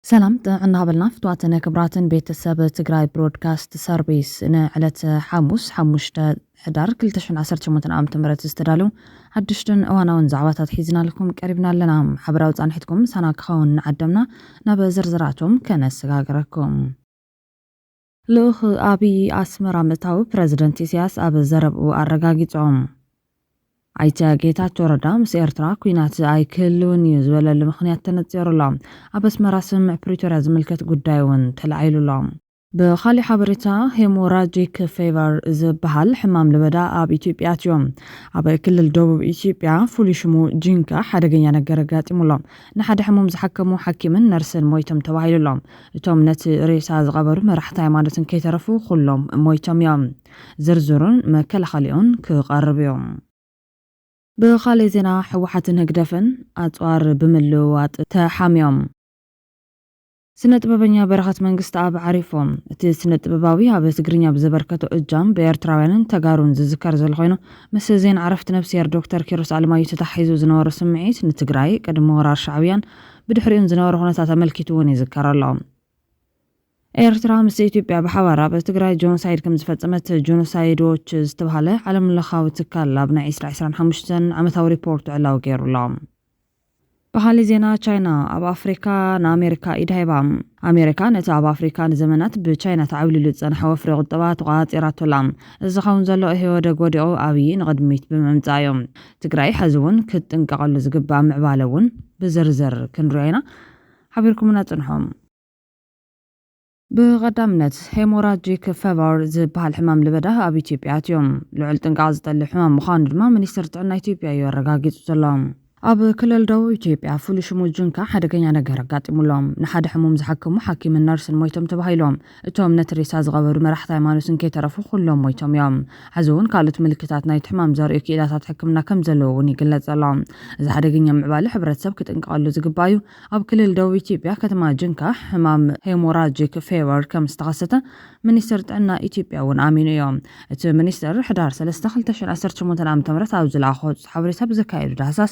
ሰላም ጥዕና በልና ፍትዋትን ክብራትን ቤተሰብ ትግራይ ብሮድካስት ሰርቪስ ንዕለት ሓሙስ ሓሙሽተ ሕዳር 218 ዓ ም ዝተዳለዉ ሓድሽትን እዋናውን ዛዕባታት ሒዝናልኩም ቀሪብና ኣለና ሓበራዊ ፃንሒትኩም ሳና ክኸውን ንዓደምና ናብ ዝርዝራቶም ከነሰጋግረኩም ልኡኽ ኣብይ ኣስመራ ምእታዉ ፕረዚደንት ኢሳያስ ኣብ ዘረብኡ ኣረጋጊጾም። ኣይተ ጌታቸው ረዳ ምስ ኤርትራ ኲናት ኣይክህልውን እዩ ዝበለሉ ምኽንያት ተነጺሩ ኣሎ። ኣብ ኣስመራ ስምምዕ ፕሪቶርያ ዝምልከት ጉዳይ እውን ተላዒሉ ኣሎ። ብኻሊእ ሓበሬታ ሄሞራጂክ ፌቨር ዝበሃል ሕማም ለበዳ ኣብ ኢትዮጵያ ኣትዩ። ኣብ ክልል ደቡብ ኢትዮጵያ ፍሉይ ሽሙ ጂንካ ሓደገኛ ነገር ኣጋጢሙ ኣሎ። ንሓደ ሕሙም ዝሓከሙ ሓኪምን ነርስን ሞይቶም ተባሂሉ ኣሎ። እቶም ነቲ ሬሳ ዝቐበሩ መራሕቲ ሃይማኖት እንከይተረፉ ኩሎም ሞይቶም እዮም። ዝርዝሩን መከላኸሊኡን ክቐርብ እዩ። ብኻልእ ዜና ህወሓትን ህግደፍን ኣፅዋር ብምልውዋጥ ተሓምዮም። ስነ ጥበበኛ በረኸት መንግስተኣብ ዓሪፉ። እቲ ስነ ጥበባዊ ኣብ ትግርኛ ብዘበርከቶ እጃም ብኤርትራውያንን ተጋሩን ዝዝከር ዘሎ ኮይኑ ምስ ዜና ዕረፍቲ ነብስሄር ዶክተር ኪሮስ ኣለማዮ ተተሓሒዙ ዝነበሮ ስምዒት ንትግራይ ቅድሚ ወራር ሻዕብያን ብድሕሪኡን ዝነበረ ኩነታት ኣመልኪቱ እውን ይዝከር ኣሎ። ኤርትራ ምስ ኢትዮጵያ ብሓባር ኣብ ትግራይ ጆኖሳይድ ከም ዝፈጸመት ጆኖሳይድ ዎች ዝተብሃለ ዓለምለኻዊ ትካል ኣብ ናይ ዕስራ ዕስራን ሓሙሽተን ዓመታዊ ሪፖርቱ ዕላዊ ገይሩ ኣሎ። በሃሊ ዜና ቻይና ኣብ ኣፍሪካ ንኣሜሪካ ኢድ ሃባ። ኣሜሪካ ነቲ ኣብ ኣፍሪካ ንዘመናት ብቻይና ተዓብሊሉ ዝጸንሐ ወፍሪ ቁጠባ ተቖጻጺራቶ ኣላ። እዚ ዝኸውን ዘሎ ኢህወደግ ወዲቑ ኣብዪ ንቕድሚት ብምምጻእ እዩ። ትግራይ ሐዚ እውን ክትጥንቀቐሉ ዝግባእ ምዕባለ እውን ብዝርዝር ክንሪኦ ኢና። ሓቢርኩምና ፅንሑ። ብቐዳምነት፣ ሄሞራጂክ ፈቨር ዝበሃል ሕማም ለበዳ ኣብ ኢትዮጵያ ኣትዩ። ልዑል ጥንቃቐ ዝጠልብ ሕማም ምዃኑ ድማ ሚኒስቴር ጥዕና ኢትዮጵያ እዩ ኣረጋጊፁ ዘሎ። ኣብ ክልል ደቡብ ኢትዮጵያ ፍሉይ ሽሙ ጅንካ ሓደገኛ ነገር ኣጋጢሙ ኣሎ። ንሓደ ሕሙም ዝሓከሙ ሓኪምን ነርስን ሞይቶም ተባሂሉ። እቶም ነቲ ሬሳ ዝቐበሩ መራሕቲ ሃይማኖትን ከይተረፉ ኩሎም ሞይቶም እዮም። ሕዚ'ውን ካልኦት ምልክታት ናይቲ ሕማም ዘርእዩ ክኢላታት ሕክምና ከም ዘለዉ'ውን ይግለጽ ኣሎ። እዚ ሓደገኛ ምዕባለ ሕብረተሰብ ክጥንቀቐሉ ዝግባእ'ዩ። ኣብ ክልል ደቡብ ኢትዮጵያ ከተማ ጅንካ ሕማም ሄሞራጂክ ፌቨር ከም ዝተኸሰተ ሚኒስትር ጥዕና ኢትዮጵያ'ውን ኣሚኑ'ዩ። እቲ ሚኒስትር ሕዳር ሰለስተ ክልተ ሽሕን ዓሰርተ ሸሞንተን ዓመተ ምህረት ኣብ ዝለኣኾ ሓበሬታ ብዘካየዶ ዳህሳስ፣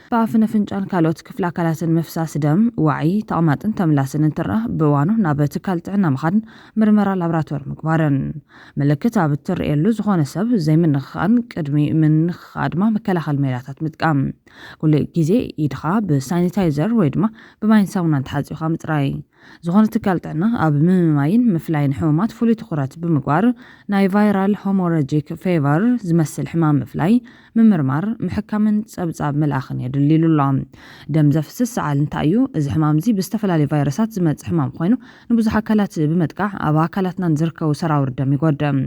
ብኣፍን ኣፍንጫን ካልኦት ክፍሊ ኣካላትን ምፍሳስ ደም፣ ዋዒ፣ ተቕማጥን ተምላስን እንትረኣ ብእዋኑ ናብ ትካል ጥዕና ምኻድን ምርመራ ላብራቶሪ ምግባርን። ምልክት ኣብ እትርእየሉ ዝኾነ ሰብ ዘይምንኽኻእን ቅድሚ ምንኽኻእ ድማ መከላኸሊ ሜላታት ምጥቃም። ኩሉ ግዜ ኢድኻ ብሳኒታይዘር ወይ ድማ ብማይን ሳሙናን ተሓጺብካ ምጽራይ። ዝኾነ ትካል ጥዕና ኣብ ምምማይን ምፍላይን ሕሙማት ፍሉይ ትኹረት ብምግባር ናይ ቫይራል ሆሞረጂክ ፌቨር ዝመስል ሕማም ምፍላይ ምምርማር፣ ምሕካምን ጸብጻብ ምልኣኽን የድሊ ኢሉ ኣሎ። ደም ዘፍስስ ሰዓል እንታይ እዩ? እዚ ሕማም'ዚ ብዝተፈላለዩ ቫይረሳት ዝመጽእ ሕማም ኮይኑ፣ ንብዙሕ ኣካላት ብምጥቃዕ ኣብ ኣካላትናን ዝርከቡ ሰራውር ደም ይጎድእ።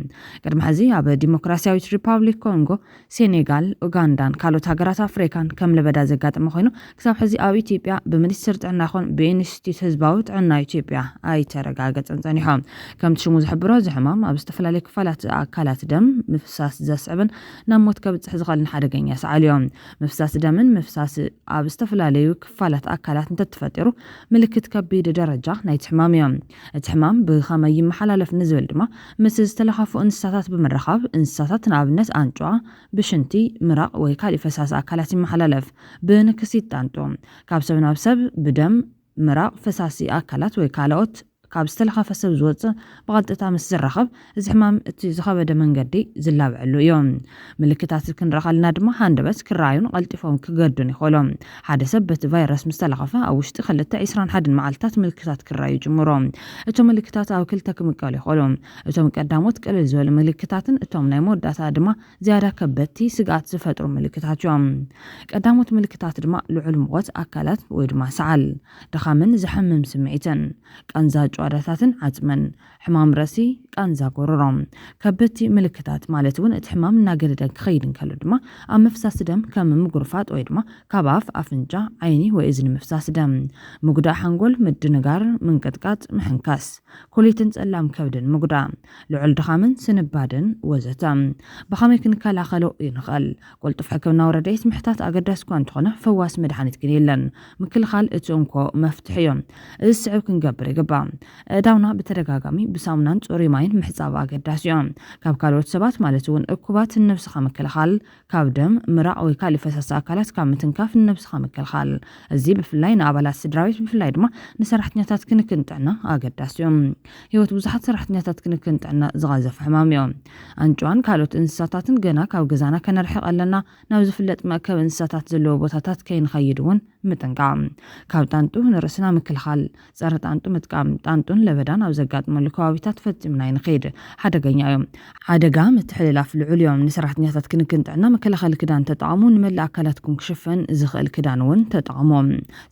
ቅድሚ ሕዚ ኣብ ዲሞክራስያዊት ሪፓብሊክ ኮንጎ፣ ሴኔጋል፣ ኡጋንዳን ካልኦት ሃገራት ኣፍሪካን ከም ለበዳ ዘጋጠመ ኮይኑ፣ ክሳብ ሕዚ ኣብ ኢትዮጵያ ብሚኒስትር ጥዕና ይኹን ብኢንስቲትዩት ህዝባዊ ጥዕና ኢትዮጵያ ኣይተረጋገጸን ጸኒሑ። ከምቲ ሽሙ ዝሕብሮ እዚ ሕማም ኣብ ዝተፈላለዩ ክፋላት ኣካላት ደም ምፍሳስ ዘስዕብን ናብ ሞት ከብጽሕ ዝኸእል ንሓደገኛ ሰዓልዮ ምፍሳስ ደምን ምፍሳስ ኣብ ዝተፈላለዩ ክፋላት ኣካላት እንተትፈጢሩ ምልክት ከቢድ ደረጃ ናይቲ ሕማምዮ። እቲ ሕማም ብኸመይ ይመሓላለፍ ንዝብል ድማ ምስ ዝተለኻፉ እንስሳታት ብምርኻብ እንስሳታት ንኣብነት ኣንጭዋ ብሽንቲ፣ ምራቕ ወይ ካሊእ ፈሳሲ ኣካላት ይመሓላለፍ። ብንክሲት ጣንጡ። ካብ ሰብ ናብ ሰብ ብደም፣ ምራቕ፣ ፈሳሲ ኣካላት ወይ ካልኦት ካብ ዝተለኸፈ ሰብ ዝወጽእ ብቐጥታ ምስ ዝራኸብ፣ እዚ ሕማም እቲ ዝኸበደ መንገዲ ዝላበዐሉ እዩ። ምልክታት ክንርኢ ከለና ድማ ሃንደበት ክረኣዩን ቐልጢፎም ክገርዱን ይኸእሉ። ሓደ ሰብ በቲ ቫይረስ ምስ ተለኸፈ ኣብ ውሽጢ ክልተ፣ ዕስራን ሓደን መዓልትታት ምልክታት ክረኣዩ ይጅምሩ። እቶም ምልክታት ኣብ ክልተ ክምቀሉ ይኸእሉ። እቶም ቀዳሞት ቅልል ዝበሉ ምልክታትን እቶም ናይ መወዳእታ ድማ ዝያዳ ከበድቲ ስግኣት ዝፈጥሩ ምልክታት እዮም። ቀዳሞት ምልክታት ድማ ልዑል ሙቐት ኣካላት ወይ ድማ ሰዓል፣ ድኻምን ዘሕምም ስምዒትን፣ ቃንዛ ጭዋዳታትን ዓጽምን፣ ሕማም ርእሲ፣ ቃንዛ ጎሮሮ። ከበድቲ ምልክታት ማለት እውን እቲ ሕማም እናገደደ ክኸይድ እንከሎ ድማ ኣብ ምፍሳስ ደም ከም ምጉርፋጥ ወይ ድማ ካብ ኣፍ፣ ኣፍንጫ፣ ዓይኒ ወይ እዝኒ ምፍሳስ ደም፣ ምጉዳእ ሓንጎል፣ ምድንጋር፣ ምንቅጥቃጥ፣ ምሕንካስ ኩሊትን ጸላም ከብድን ምጉዳእ። ልዑል ድኻምን ስንባደን ወዘተ። ብኸመይ ክንከላኸሎ ንኽእል? ቅልጡፍ ሕክምናዊ ረድኤት ምሕታት ኣገዳሲ'ኳ እንተኾነ፣ ፈዋሲ መድሓኒት ግን የለን። ምክልኻል እቲ እንኮ መፍትሒ'ዩ። እዚ ዝስዕብ ክንገብር ይግባእ። ኣእዳውና ብተደጋጋሚ ብሳሙናን ጽሩይ ማይን ምሕጻብ ኣገዳሲ'ዩ። ካብ ካልኦት ሰባት ማለት'ውን እኩባት ንነብስኻ ምክልኻል ካብ ደም፣ ምራቕ ወይ ካልእ ፈሳሲ ኣካላት ካብ ምትንካፍ ንነብስኻ ምክልኻል። እዚ ብፍላይ ንኣባላት ስድራቤት ብፍላይ ድማ ንሰራሕተኛታት ክንክን ጥዕና ኣገዳሲ እዩ። ህይወት ብዙሓት ሰራሕተኛታት ክንክን ጥዕና ዝቐዘፈ ሕማም እዩ። ኣንጭዋን ካልኦት እንስሳታትን ገና ካብ ገዛና ከነርሕቕ ኣለና፣ ናብ ዝፍለጥ መእከቢ እንስሳታት ዘለዎ ቦታታት ከይንኸይድ እውን ምጥንቃቕ። ካብ ጣንጡ ንርእስና ምክልኻል። ጸረ ጣንጡ ምጥቃም፣ ጣንጡን ለበዳን ኣብ ዘጋጥመሉ ከባቢታት ፈጺምና ኣይንኸይድ። ሓደገኛ እዮም። ሓደጋ ምትሕልላፍ ልዑል እዮም። ንሰራሕተኛታት ክንክን ጥዕና መከላኸሊ ክዳን ተጠቐሙ፣ ንመላእ ኣካላትኩም ክሽፈን ዝኽእል ክዳን እውን ተጠቐሙ።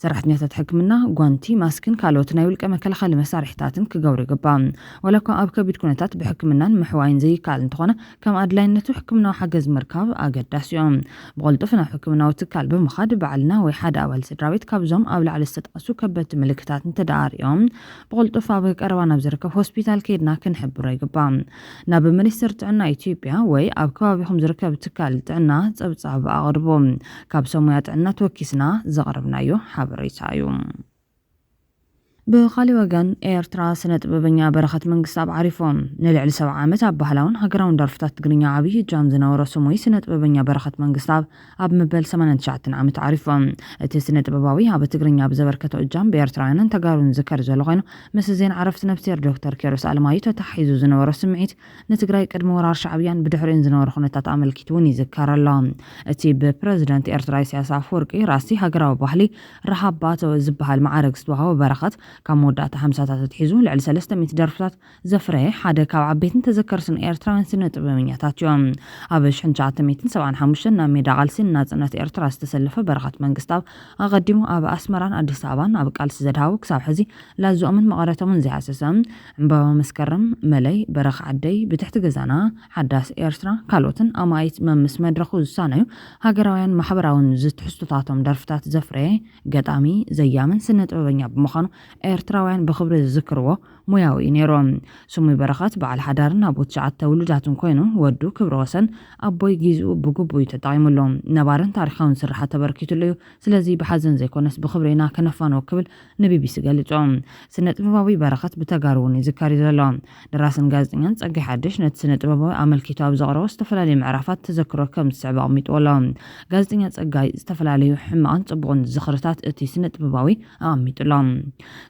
ሰራሕተኛታት ሕክምና፣ ጓንቲ፣ ማስክን ካልኦት ናይ ውልቀ መከላኸሊ መሳርሒታትን ክገብሩ ይግባእ። ዋላኳ ኣብ ከቢድ ኩነታት ብሕክምናን ምሕዋይን ዘይከኣል እንተኾነ፣ ከም ኣድላይነቱ ሕክምናዊ ሓገዝ ምርካብ ኣገዳሲዮ። ብቕልጡፍ ናብ ሕክምናዊ ትካል ብምኻድ ባዕልና ወይ ሓደ ኣባል ስድራቤት ካብዞም ኣብ ላዕሊ ዝተጠቐሱ ከበድቲ ምልክታት እንተደኣ ኣርእዮም ብቕልጡፍ ኣብ ቀረባ ናብ ዝርከብ ሆስፒታል ከይድና ክንሕብሮ ይግባእ። ናብ ሚኒስትር ጥዕና ኢትዮጵያ ወይ ኣብ ከባቢኹም ዝርከብ ትካል ጥዕና ጸብጻብ ኣቕርቡ። ካብ ሰብ ሙያ ጥዕና ተወኪስና ዘቕረብናዮ ሓበሬታ እዩ። ብኻልእ ወገን ኤርትራ ስነጥበበኛ በረኸት መንግስታብ ዓሪፉ። ንልዕሊ ሰብዓ ዓመት ኣብ ባህላውን ሃገራውን ደርፍታት ትግርኛ ዓብይ እጃም ዝነበሮ ስሙይ ስነጥበበኛ በረኸት መንግስታብ ኣብ መበል ሰማንያን ትሽዓተን ዓመቱ ዓሪፉ። እቲ ስነጥበባዊ ኣብ ትግርኛ ብዘበርከቶ እጃም ብኤርትራውያንን ተጋሩን ዝዝከር ዘሎ ኮይኑ ምስ ዜና ዕረፍቲ ነፍስሄር ዶክተር ኪሮስ ኣለማዩ ተተሓሒዙ ዝነበሮ ስምዒት ንትግራይ ቅድሚ ወራር ሻዕብያን ብድሕሪኡን ዝነበረ ኩነታት ኣመልኪቱውን ይዝከር ኣሎ። እቲ ብፕረዚደንት ኤርትራ ኢሳያስ ኣፈወርቂ ራእሲ ሃገራዊ ባህሊ ረሃብ ባተ ዝበሃል መዓርግ ዝተዋህቦ በረኸት፣ ካብ መወዳእታ ሓምሳታት ኣትሒዙ ልዕሊ ሰለስተ ሚእቲ ደርፍታት ዘፍረየ ሓደ ካብ ዓበይትን ተዘከርትን ኤርትራውያን ስነ-ጥበበኛታት እዮ። ኣብ ሽሕን ትሽዓተ ሚእትን ሰብዓን ሓሙሽተን ናብ ሜዳ ቃልሲ ንናጽነት ኤርትራ ዝተሰለፈ በረኸት መንግስታብ፣ ኣቐዲሙ ኣብ ኣስመራን ኣዲስ ኣበባን ኣብ ቃልሲ ዘድሃቡ ክሳብ ሕዚ ላዝኦምን መቐረቶምን ዘይሃሰሰ ዕምባባ መስከረም፣ መለይ፣ በረኻ ዓደይ፣ ብትሕቲ ገዛና፣ ሓዳስ ኤርትራ ካልኦትን ኣማኢት መምስ መድረኹ ዝሳነዩ ሃገራውያን ማሕበራውን ዝትሕዝቶታቶም ደርፍታት ዘፍረየ ገጣሚ፣ ዘያምን ስነጥበበኛ ብምዃኑ ኤርትራውያን ብኽብሪ ዝዝክርዎ ሞያዊ እዩ ነይሩ። ስሙይ በረኸት በዓል ሓዳርን ኣቦ ትሽዓተ ውሉዳትን ኮይኑ፣ ወዱ ክብረወሰን ኣቦይ ጊዝኡ ብግቡእ እዩ ተጠቒሙሉ። ነባርን ታሪኻውን ስርሓት ተበርኪቱሉ እዩ። ስለዚ ብሓዘን ዘይኮነስ ብኽብሪ ኢና ከነፋንዎ ክብል ንቢቢሲ ገሊጹ። ስነ-ጥበባዊ በረኸት ብተጋሩ'ውን ይዝከር እዩ ዘሎ። ደራስን ጋዜጠኛን ጸጋይ ሓድሽ ነቲ ስነ-ጥበባዊ ኣመልኪቱ ኣብ ዘቕረቦ ዝተፈላለዩ ምዕራፋት ተዘክሮ ከም ዝስዕብ ኣቕሚጥዎ ኣሎ። ጋዜጠኛ ጸጋይ ዝተፈላለዩ ሕማቕን ጽቡቕን ዝኽርታት እቲ ስነ-ጥበባዊ ኣቐሚጡ ኣሎ።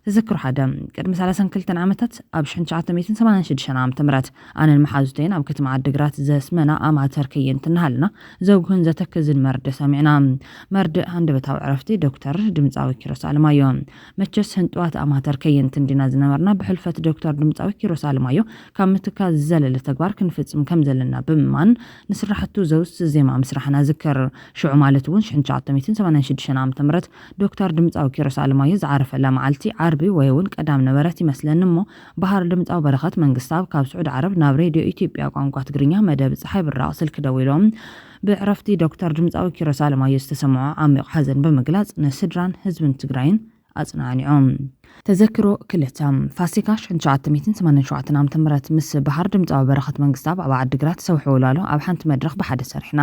ተዘክሮ ሓደ። ቅድሚ ሰላሳን ክልተን ዓመታት፣ ኣብ ሽሕን ትሽዓተ ሚእትን ሰማንያን ሽዱሽተን ዓመተ ምህረት፣ ኣነን መሓዙተይን ኣብ ከተማ ዓዲግራት ዘስመና ኣማተር ከየንቲ እናሃለና ዘጉህን ዘተክዝን መርድእ ሰሚዕና። መርድእ ሃንደበታዊ ዕረፍቲ ዶክተር ድምጻዊ ኪሮስ ኣለማዮ። መቸስ ህንጡዋት ኣማተር ከየንቲ እንዲና ዝነበርና ብሕልፈት ዶክተር ድምጻዊ ኪሮስ ኣለማዮ ካብ ምትካዝ ዝዘለለ ተግባር ክንፍጽም ከም ዘለና ብምእማን ንስራሕቱ ዘውስስ ዜማ ምስራሕና እዝክር። ሽዑ ማለት እውን ሽሕን ትሽዓተ ሚእትን ሰማንያን ሽዱሽተን ዓመተ ምህረት ዶክተር ድምጻዊ ኪሮስ ኣለማዮ ዝዓረፈላ መዓልቲ ዓርቢ ወይውን ቀዳም ነበረት ይመስለኒ እሞ በሃር ድምጻዊ በረኸት መንግስታብ ካብ ስዑዲ ዓረብ ናብ ሬድዮ ኢትዮጵያ ቋንቋ ትግርኛ መደብ ጸሓይ ብራቕ ስልኪ ደዊሉ ብዕረፍቲ ዶክተር ድምጻዊ ኪሮስ ኣለማዮ ዝተሰምዖ ዓሚቕ ሓዘን ብምግላጽ ንስድራን ህዝብን ትግራይን ኣጽናኒዑ። ተዘክሮ ክልተ ፋሲካ ሽሕን ትሽዓተ ሚእትን ሰማንያን ሸውዓተን ዓመተ ምህረት ምስ በሃር ድምጻዊ በረኸት መንግስታብ ኣብ ዓዲግራት ሰውሒ ወልዋሎ ኣብ ሓንቲ መድረኽ ብሓደ ሰሪሕና።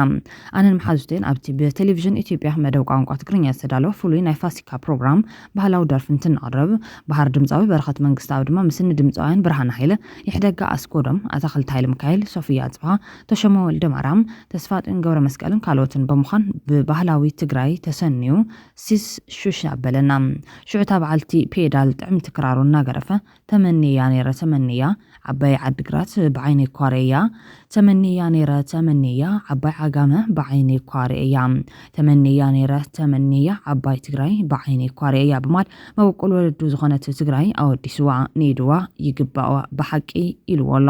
ኣነን መሓዙተይን ኣብቲ ብቴሌቪዥን ኢትዮጵያ መደብ ቋንቋ ትግርኛ ዝተዳለወ ፍሉይ ናይ ፋሲካ ፕሮግራም ባህላዊ ደርፊ እንትንቕርብ፣ በሃር ድምጻዊ በረኸት መንግስተኣብ ድማ ምስ እኒ ድምጻውያን ብርሃነ ሃይለ፣ ይሕደጋ ኣስጎዶም፣ ኣታኽልቲ ሃይለሚካኤል፣ ሶፍያ ኣጽብሃ፣ ተሾመ ወልደማርያም፣ ተስፋጽዮን ገብረመስቀልን ካልኦትን ብምዃን ብባህላዊ ትግራይ ተሰንዩ ሲስ ሹሽ ኣበለና። ሽዑ እታ በዓልቲ ፔዳል ጥዕምቲ ክራሩ እናገደፈ ተመንየያ ነይረ ተመንየያ ዓባይ ዓዲግራት ብዓይነይ እኳ ርእየያ ተመንየያ ነይረ ተመንየያ ዓባይ ዓጋመ ብዓይነይ እኳ ርእየያ ተመንየያ ነይረ ተመንየያ ዓባይ ትግራይ ብዓይነይ እኳ ርእየያ ብማል መበቆል ወለዱ ዝኾነት ትግራይ ኣወዲስዋ ንኢድዋ ይግባእዋ ብሓቂ ኢልዎ ኣሎ።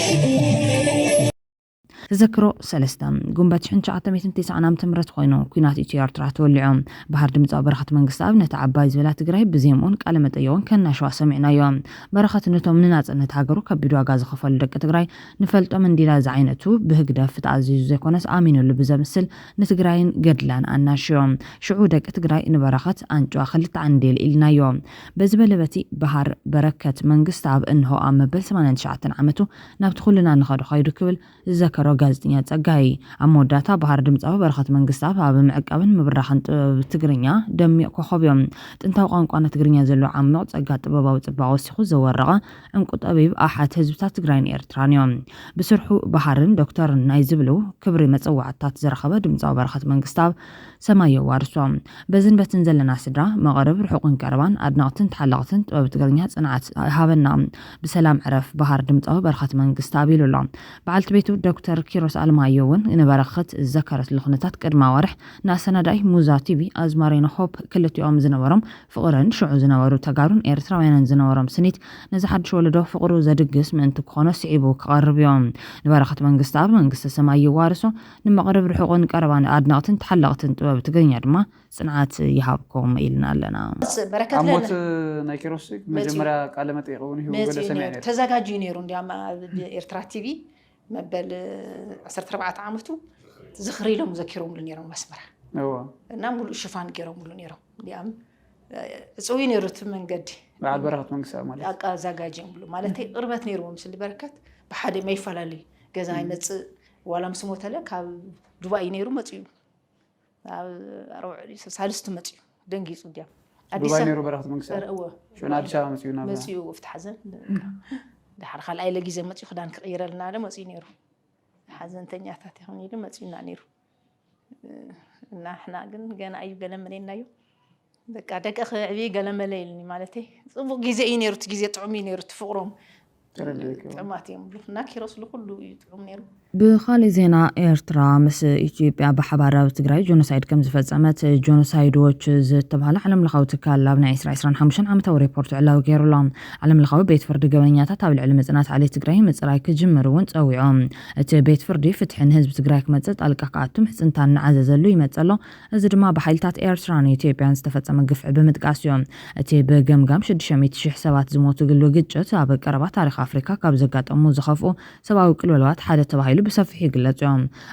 ተዘክሮ ሰለስተ ጉንበት ሽሕን ትሽዓተ ሚእትን ትስዓን ዓመተ ምህረት ኮይኑ ኩናት ኢትዮ ኤርትራ ተወሊዑ ባህር ድምፃዊ በረኸት መንግስተኣብ ነቲ ዓባይ ዝበላ ትግራይ ብዜምኡን ቃለ መጠየቁን ከናሸዋ ሰሚዕናዮ በረኸት ነቶም ንናፅነት ሃገሩ ከቢድ ዋጋ ዝኸፈሉ ደቂ ትግራይ ንፈልጦም እንዲላ ዝዓይነቱ ብህግደፍ ተኣዚዙ ዘይኮነስ ኣሚኑሉ ብዘምስል ንትግራይን ገድላን ኣናሽዮ ሽዑ ደቂ ትግራይ ንበረኸት ኣንጭዋ ክልተ ዓንዴል ኢልናዮ በዚ በለ በቲ፣ በሃር በረከት መንግስትኣብ እንሆ ኣብ መበል ሰማንያን ትሽዓተን ዓመቱ ናብቲ ኩልና ንኸዶ ከይዱ ክብል ዝዘከሮ ጋዜጠኛ ጸጋይ፣ ኣብ መወዳእታ በሃር ድምጻዊ በረኸት መንግስትኣብ ኣብ ምዕቃብን ምብራኽን ጥበብ ትግርኛ ደሚቕ ኮኾብዮ። ጥንታዊ ቋንቋና ትግርኛ ዘለዎ ዓሚቕ ጸጋ ጥበባዊ ጽባቐ ወሲኹ ዘወረቐ ዕንቁ ጠቢብ ኣሓት ህዝብታት ትግራይን ኤርትራንዮ። ብስርሑ በሃርን ዶክተርን ናይ ዝብሉ ክብሪ መጸዋዕታታት ዝረኸበ ድምጻዊ በረኸት መንግስትኣብ፣ ሰማይ የዋርሶ በዝን በትን ዘለና ስድራ መቐርብ ርሑቕን ቀረባን ኣድነቕትን ተሓለቕትን ጥበብ ትግርኛ ጽንዓት ይሃበና ብሰላም ዕረፍ በሃር ድምጻዊ በረኸት መንግስተኣብ ኢሉ ኣሎ በዓልቲ ቤቱ ዶክተር ኪሮስ ኣለማዮ እውን ንበረኸት ዝዘከረትሉ ኩነታት ቅድማ ወርሕ ንኣሰናዳኢ ሙዛ ቲቪ ኣዝማሪኖ ሆፕ ክልቲኦም ዝነበሮም ፍቕርን ሽዑ ዝነበሩ ተጋሩን ኤርትራውያንን ዝነበሮም ስኒት ነዚ ሓድሽ ወለዶ ፍቕሩ ዘድግስ ምእንቲ ክኾኖ ስዒቡ ክቐርብ እዩ ንበረኸት መንግስተኣብ መንግስተ ሰማይ ይዋርሶ ንመቕርብ ርሑቕን ቀረባን ኣድነቕትን ተሓለቕትን ጥበብ ትግርኛ ድማ ጽንዓት ይሃብኩም ኢልና ኣለና። ሞት በረከት ኣብ ሞት ለነ ናይ ኪሮስ ሴግ መጺኡ መጀመርያ ቃለ መጠይቕ እውን ሂቡ ገለ መጺኡ ሰሚዐ ነይሩ ነይረ። ተዛጋጅ እዩ ነይሩ እንዲያም ኣብ ኤርትራ ቲቪ መበል ዓሰርተ ኣርባዕተ ዓመቱ ዝኽሪ ኢሎም ዘኪሮምሉ ነይሮም ኣስመራ እዎ እና ሙሉእ ሽፋን ገይሮምሉ ነይሮም እንዲያም ዕፅው እዩ ነይሩ እቲ መንገዲ በዓል በረኸት መንግስታዊ ማለት እዩ። ኣቃ ዛጋጅ እዮም ብሉ ማለተይ ቅርበት ነይርዎም ስሊ በረከት ብሓደ መይፈላለዩ ገዛ ይመፅእ ዋላ ምስ ሞተለ ካብ ዱባይ እዩ ነይሩ መፅኡ ሳልስቲ መፅኡ ደንጊፁ ድያም ዱባይ ነይሩ በረክት መንግስቲ ሽዑ ኣዲስ ኣበባ መፅኡ ናብ መፅኡ ኣብቲ ሓዘን ድሓር ካልኣይ ለጊዜ መፅኡ ክዳን ክቕይረልና ለ መፅኡ ነይሩ ሓዘንተኛታት ይኹን ኢሉ መፅኡና ነይሩ እና ሕና ግን ገና እዩ ገለመለና እዩ በቃ ደቂ ክዕብይ ገለመለ ኢልኒ ማለተይ ፅቡቅ ግዜ እዩ ነይሩ እቲ ግዜ ጥዑም እዩ ነይሩ እቲ ፍቅሮም ጥዑማት እዮም ብሉ እና ኪሮስ ልኩሉ እዩ ጥዑም ነይሩ ብኻሊእ ዜና ኤርትራ ምስ ኢትዮጵያ ብሓባር ኣብ ትግራይ ጆኖሳይድ ከም ዝፈጸመት ጆኖሳይድ ዎች ዝተባህለ ዓለም ለኻዊ ትካል ኣብ ናይ 2025 ዓመታዊ ሪፖርት ዕላዊ ገይሩ ኣሎ። ዓለም ለኻዊ ቤት ፍርዲ ገበነኛታት ኣብ ልዕሊ መጽናት ዓሌት ትግራይ ምጽራይ ክጅምር እውን ጸዊዑ። እቲ ቤት ፍርዲ ፍትሒ ንህዝቢ ትግራይ ክመጽእ ጣልቃ ክኣቱ ምሕጽንታ እናዓዘዘሉ ይመጽእ ኣሎ። እዚ ድማ ብሓይልታት ኤርትራን ኢትዮጵያን ዝተፈጸመ ግፍዒ ብምጥቃስ እዩ። እቲ ብገምጋም ሽዱሽተ ሚእቲ ሽሕ ሰባት ዝሞቱግሉ ግጭት ኣብ ቀረባ ታሪኽ ኣፍሪካ ካብ ዘጋጠሙ ዝኸፍኡ ሰብኣዊ ቅልውላዋት ሓደ ተባሂሉ ብሰፊሑ ይግለጽ እዩ።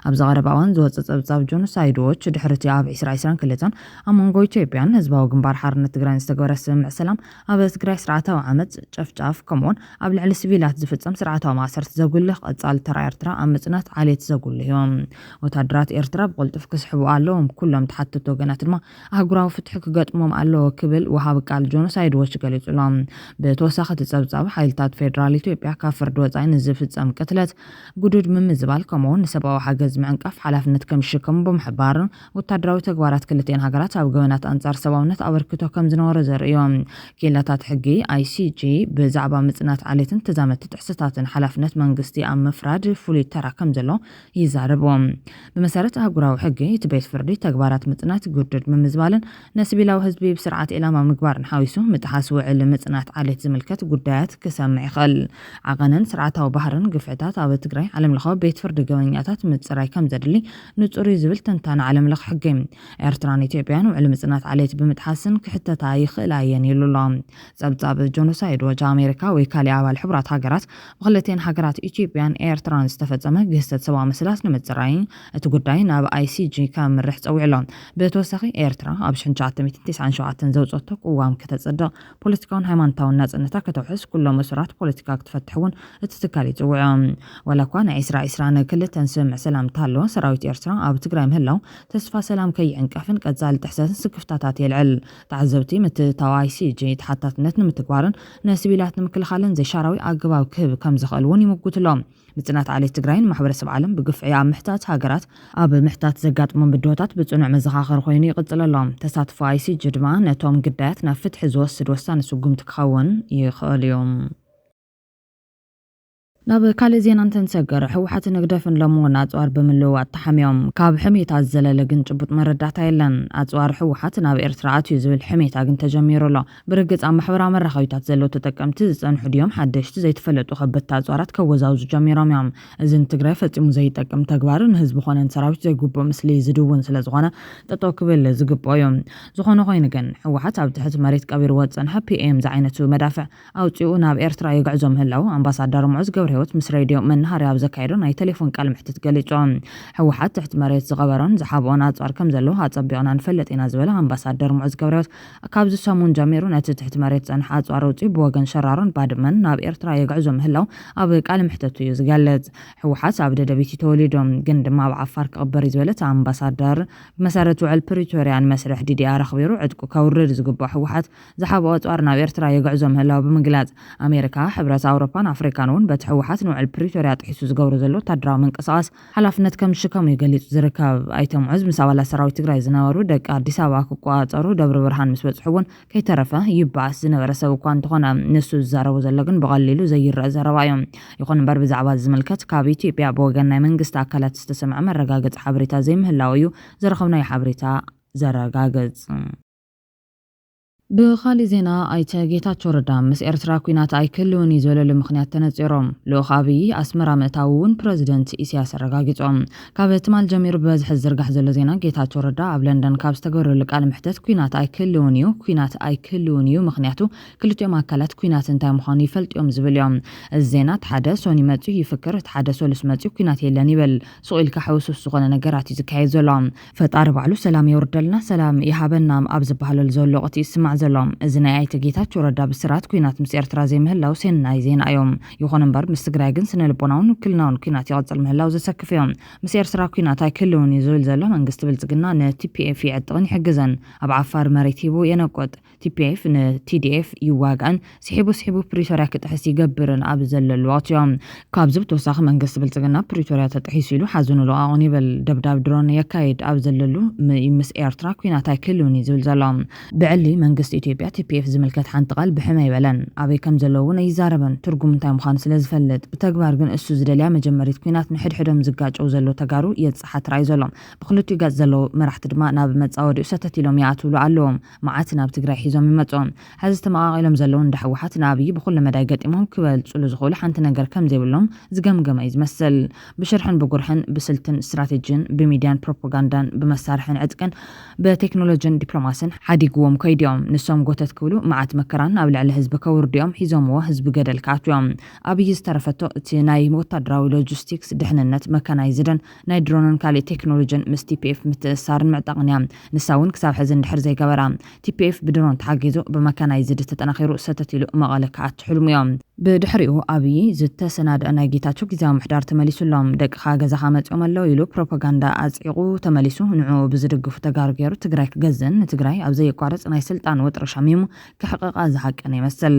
ኣብዚ ቀረባ እዋን ዝወጸ ጸብጻብ ጆኖሳይድ ዎች ድሕሪ እቲ ኣብ ዕስራ ዕስራን ክልተን ኣብ መንጎ ኢትዮጵያን ህዝባዊ ግንባር ሓርነት ትግራይን ዝተገበረ ስምምዕ ሰላም ኣብ ትግራይ ስርዓታዊ ዓመጽ፣ ጨፍጫፍ፣ ከምኡ'ውን ኣብ ልዕሊ ስቪላት ዝፍጸም ስርዓታዊ ማእሰርቲ ዘጉልህ ቀጻሊ ተራ ኤርትራ ኣብ ምጽናት ዓሌት ዘጉልህ እዩ። ወተሃደራት ኤርትራ ብቕልጡፍ ክስሕቡ ኣለዎም፣ ኩሎም ተሓተትቲ ወገናት ድማ ኣህጉራዊ ፍትሒ ክገጥሞም ኣለዎ ክብል ወሃቢ ቃል ጆኖሳይድ ዎች ገሊጹ ኣሎ። ብተወሳኺ እቲ ጸብጻብ፣ ሓይልታት ፌደራል ኢትዮጵያ ካብ ፍርዲ ወጻኢ ንዝፍጸም ቅትለት፣ ግዱድ ምምዝባል፣ ከምኡ'ውን ንሰብኣዊ ሓገዝ ምዕንቃፍ ሓላፍነት ከም ዝሽከሙ ብምሕባር፣ ወታደራዊ ተግባራት ክልቲኤን ሃገራት ኣብ ገበናት ኣንጻር ሰብኣውነት ኣበርክቶ ከም ዝነበሮ ዘርኢ እዩ። ክኢላታት ሕጊ፣ ICJ፣ ብዛዕባ ምጽናት ዓሌትን ተዛመድቲ ጥሕሰታትን ሓላፍነት መንግስቲ ኣብ ምፍራድ ፍሉይ ተራ ከም ዘሎ ይዛረቡ። ብመሰረት ኣህጉራዊ ሕጊ፣ እቲ ቤት ፍርዲ ተግባራት ምጽናት፣ ግዱድ ምምዝባልን ንስቪላዊ ህዝቢ ብስርዓት ዒላማ ምግባርን ሓዊሱ ምጥሓስ ውዕል ምጽናት ዓሌት ዝምልከት ጉዳያት ክሰምዕ ይኽእል። ዓቐንን ስርዓታዊ ባህርን ግፍዕታት ኣብ ትግራይ ዓለምለኻዊ ቤት ፍርዲ ገበነኛታት ምጽራይ ከም ዘድሊ ንጹር እዩ ዝብል ተንታኒ ዓለም ለኽ ሕጊ፣ ኤርትራን ኢትዮጵያን ውዕሊ ምጽናት ዓሌት ብምጥሓስን ክሕተታ ይኽእላ እየን ኢሉ ኣሎ። ጸብጻብ ጆኖሳይድ ዎች፣ ኣሜሪካ ወይ ካሊእ ኣባል ሕቡራት ሃገራት ብክልቲኤን ሃገራት ኢትዮጵያን ኤርትራን ዝተፈጸመ ግህሰት ሰብኣዊ መሰላት ንምጽራይ እቲ ጉዳይ ናብ ICG ከምርሕ ጸዊዑ ኣሎ። ብተወሳኺ ኤርትራ ኣብ ሽሕን ትሽዓተ ሚእትን ቴስዓን ሸውዓተን ዘውጸቶ ቅዋም ከተጽድቕ ፖለቲካውን ሃይማኖታውን ናጽነታ ከተውሕስ ኩሎም እሱራት ፖለቲካ ክትፈትሕ እውን እቲ ትካል ይጽውዕ። ዋላ እኳ ናይ ዕስራ ዕስራን ክልተን ስምምዕ ሰላም እንተሃለወ፣ ሰራዊት ኤርትራ ኣብ ትግራይ ምህላው ተስፋ ሰላም ከይዕንቀፍን ቀጻሊ ጥሕሰትን ስክፍታታት የልዕል። ተዓዘብቲ ምትእትታው ICG ተሓታትነት ንምትግባርን ንስቪላት ንምክልኻልን ዘይሻራዊ ኣገባብ ክህብ ከምዝኽእል እውን ይምጉትሎም። ምፅናት ዓሌት ትግራይ ንማሕበረሰብ ዓለም ብግፍዒ ኣብ ምሕታት ሃገራት ኣብ ምሕታት ዘጋጥሞም ብድሆታት ብፅኑዕ መዘኻኸሪ ኮይኑ ይቕፅል ኣሎ። ተሳትፎ ኣይሲጂ ድማ ነቶም ግዳያት ናብ ፍትሒ ዝወስድ ወሳኒ ስጉምቲ ክኸውን ይኽእል እዩ። ናብ ካልእ ዜና እንትንሰገር፣ ህወሓትን ህግደፍን ሎሚ እውን ኣፅዋር ብምልውዋጥ ተሓሚዮም። ካብ ሕሜታ ዝዘለለ ግን ጭቡጥ መረዳእታ የለን። ኣፅዋር ህወሓት ናብ ኤርትራ ኣትዩ ዝብል ሕሜታ ግን ተጀሚሩ ኣሎ። ብርግጽ ኣብ ማሕበራዊ መራኸቢታት ዘለዉ ተጠቀምቲ ዝጸንሑ ድዮም ሓደሽቲ ዘይተፈለጡ ከበድቲ ኣጽዋራት ከወዛውዙ ጀሚሮም እዮም። እዚ ንትግራይ ፈጺሙ ዘይጠቅም ተግባር ንህዝቢ ኮነ ንሰራዊት ዘይግቡእ ምስሊ ዝድውን ስለዝኾነ ጠጠው ክብል ዝግብኦ እዩ። ዝኾነ ኮይኑ ግን ህወሓት ኣብ ትሕቲ መሬት ቀቢርዎ ዝጸንሐ PM ዝዓይነቱ መዳፍዕ ኣውጺኡ ናብ ኤርትራ የግዕዞ ምህላዉ ኣምባሳደር ሙዑዝ ገብረሂወት ምስ ሬድዮ መነሃርያ ኣብ ዘካየዶ ናይ ተሌፎን ቃለመሕትት ገሊጹ። ህወሓት ትሕቲ መሬት ዝቐበሮን ዝሓብኦን ኣጽዋር ከምዘለዎ ኣጸቢቕና ንፈልጥ ኢና ዝበለ ኣምባሳደር ሙዑዝ ገብረሂወት ካብዚ ሰሙን ጀሚሩ ነቲ ትሕቲ መሬት ዝጸንሐ ኣጽዋር ኣውጺኡ ብወገን ሸራሮን ባድመን ናብ ኤርትራ የግዕዞ ምህላዉ ኣብ ቃለ መሕተቱ እዩ ዝገልጽ። ህወሓት ኣብ ደደቢት እዩ ተወሊዱ ግን ድማ ኣብ ዓፋር ክቕበር እዩ ዝበለ እቲ ኣምባሳደር፣ ብመሰረት ውዕል ፕሪቶርያ ንመስርሕ ዲዲኣር ኣኽቢሩ ዕጥቁ ከውርድ ዝግብኦ ህወሓት ዝሓብኦ ኣጽዋር ናብ ኤርትራ የግዕዞ ምህላዉ ብምግላጽ ኣሜሪካ፣ ሕብረት ኣውሮፓን ኣፍሪካን እውን በቲ ህወሓት ንውዕል ፕሪቶርያ ጥሒሱ ዝገብሮ ዘሎ ወታደራዊ ምንቅስቓስ ሓላፍነት ከም ዝሽከሙ እዩ ገሊፁ ዝርከብ። ኣይተ ሙዑዝ ምስ ኣባላት ሰራዊት ትግራይ ዝነበሩ ደቂ ኣዲስ ኣበባ ክቆፃፀሩ ደብረ ብርሃን ምስ በፅሑ እውን ከይተረፈ ይበኣስ ዝነበረ ሰብ እኳ እንተኾነ ንሱ ዝዛረቦ ዘሎ ግን ብቐሊሉ ዘይረእ ዘረባ እዩ። ይኹን እምበር ብዛዕባ እዚ ዝምልከት ካብ ኢትዮጵያ ብወገን ናይ መንግስቲ ኣካላት ዝተሰምዐ መረጋገፂ ሓበሬታ ዘይምህላዉ እዩ ዝረኸብናዮ ሓበሬታ ዘረጋግፅ። ብኻሊእ ዜና ኣይተ ጌታቸው ረዳ ምስ ኤርትራ ኲናት ኣይክህልውን እዩ ዝበለሉ ምኽንያት ተነጺሮም። ልኡኽ ኣብይ ኣስመራ ምእታዉ እውን ፕረዚደንት ኢሳያስ ኣረጋጊጾም። ካብ ትማል ጀሚሩ ብበዝሒ ዝዝርጋሕ ዘሎ ዜና ጌታቸው ረዳ ኣብ ለንደን ካብ ዝተገብረሉ ቃለ መሕተት ኲናት ኣይክህልውን እዩ ኲናት ኣይክህልውን እዩ ምኽንያቱ ክልቲኦም ኣካላት ኲናት እንታይ ምዃኑ ይፈልጡ እዮም ዝብል እዮም። እዚ ዜና እቲ ሓደ ሶኒ መጺኡ ይፍክር እቲ ሓደ ሰሉስ መጺኡ ኲናት የለን ይብል። ሱቕ ኢልካ ሕውስውስ ዝኾነ ነገራት እዩ ዝካየድ ዘሎ። ፈጣሪ ባዕሉ ሰላም የውርደልና ሰላም ይሃበና ኣብ ዝበሃለሉ ዘሎ ወቕቲ እዩ ዝስማዕ ዘሎ። እዚ ናይ ኣይተ ጌታቸው ረዳ ብስራት ኲናት ምስ ኤርትራ ዘይምህላው ሴናይ ዜና እዩ። ይኹን እምበር ምስ ትግራይ ግን ስነልቦናውን ውክልናውን ኲናት ይቕጽል ምህላው ዘሰክፍ እዩ። ምስ ኤርትራ ኲናት ኣይክህልውን እዩ ዝብል ዘሎ መንግስቲ ብልጽግና ንቲፒኤፍ ይዕጥቕን ይሕግዝን። ኣብ ዓፋር መሬት ሂቡ የነቁጥ። ቲፒኤፍ ንቲዲኤፍ ይዋጋእን ስሒቡ ስሒቡ ፕሪቶርያ ክጥሕስ ይገብርን ኣብ ዘለሉ ወቕቲዮ። ካብዚ ብተወሳኺ መንግስቲ ብልፅግና ፕሪቶርያ ተጥሒሱ ኢሉ ሓዘኑ ልቓቑን ይብል፣ ደብዳብ ድሮን የካይድ ኣብ ዘለሉ ዩ ምስ ኤርትራ ኲናት ኣይክህልውን ዩ ዝብል ዘሎ። ብዕሊ መንግስቲ ኢትዮጵያ ቲፒኤፍ ዝምልከት ሓንቲ ቃል ብሕም ኣይበለን፣ ኣበይ ከምዘለዉ ውን ኣይዛረበን፣ ትርጉሙ እንታይ ምዃኑ ስለዝፈልጥ። ብተግባር ግን እሱ ዝደልያ መጀመሪት ኲናት ንሕድሕዶም ዝጋጨዉ ዘለዉ ተጋሩ የፅሓ ትራእዩ ዘሎ። ብኽልቲኡ ገፅ ዘለዉ መራሕቲ ድማ ናብ መፃወዲኡ ሰተት ኢሎም ይኣትውሉ ኣለዉ። መዓት ናብ ትግራይ ሒዞም ይመፁ። ሐዚ ተመቓቒሎም ዘለዉ እንዳ ህወሓት ንኣብዪ ብኹሉ መዳይ ገጢሞም ክበልፅሉ ዝኽእሉ ሓንቲ ነገር ከምዘይብሎም ዝገምገመ እዩ ዝመስል። ብሽርሕን ብጉርሕን፣ ብስልትን ስትራቴጂን፣ ብሚድያን ፕሮፖጋንዳን፣ ብመሳርሕን ዕጥቅን፣ ብቴክኖሎጂን ዲፕሎማሲን ሓዲግዎም ከይዱ እዮም። ንሶም ጎተት ክብሉ መዓት መከራን ኣብ ልዕሊ ህዝቢ ከውርዱ እዮም ሒዞምዎ ህዝቢ ገደል ክኣትው እዮም። ኣብዪ ዝተረፈቶ እቲ ናይ ወታደራዊ ሎጂስቲክስ፣ ድሕንነት፣ መካናይዝድን፣ ናይ ድሮንን ካሊእ ቴክኖሎጅን ምስ ቲፒኤፍ ምትእስሳርን ምዕጣቕን እያ ንሳ እውን ክሳብ ሕዚ እንድሕር ዘይገበራ። ቲፒኤፍ ብድሮን ተሓጊዙ ብመካናይዝድ ተጠናኺሩ ሰተት ኢሉ መቐለ ክኣቱ ሕልሙ እዮ። ብድሕሪኡ ኣብዪ ዝተሰናደኣ ናይ ጌታቸው ጊዚያዊ ምሕዳር ተመሊሱ ኣሎ። ደቅኻ ገዛኻ መፂኦም ኣለው ኢሉ ፕሮፓጋንዳ ኣፅዒቑ ተመሊሱ ንዕኡ ብዝድግፉ ተጋሩ ገይሩ ትግራይ ክገዝእን ንትግራይ ኣብ ዘየቋርፅ ናይ ስልጣን ወጥሪ ሸሚሙ ክሕቐቓ ዝሃቀነ ይመስል።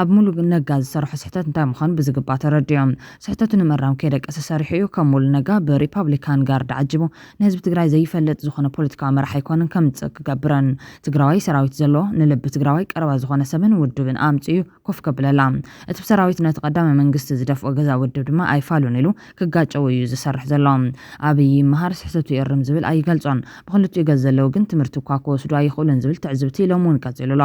ኣብ ሙሉ ነጋ ዝሰረሖ ስሕተት እንታይ ምዃኑ ብዝግባእ ተረዲኦ ስሕተቱ ንምእራም ከይደቀሰ ሰሪሑ እዩ። ከም ሙሉ ነጋ ብሪፓብሊካን ጋርድ ዓጂቡ ንህዝቢ ትግራይ ዘይፈልጥ ዝኾነ ፖለቲካዊ መራሒ ኣይኮነን ከምፅእ ክገብረን። ትግራዋይ ሰራዊት ዘለዎ ንልቢ ትግራዋይ ቀረባ ዝኾነ ሰብን ውድብን ኣምፂኡ እዩ ኮፍ ከብለላ። እቲ ብሰራዊት ነቲ ቀዳማይ መንግስቲ ዝደፍኦ ገዛ ውድብ ድማ ኣይፋሉን ኢሉ ክጋጨው እዩ ዝሰርሕ ዘሎ። ኣብይ ይመሃር ስሕተቱ ይእርም ዝብል ኣይገልጾን። ብኽልቲኡ ገጽ ዘለው ግን ትምህርቲ እኳ ክወስዱ ኣይኽእሉን ዝብል ትዕዝብቲ ሎሚ እውን ቀጺሉ ኣሎ።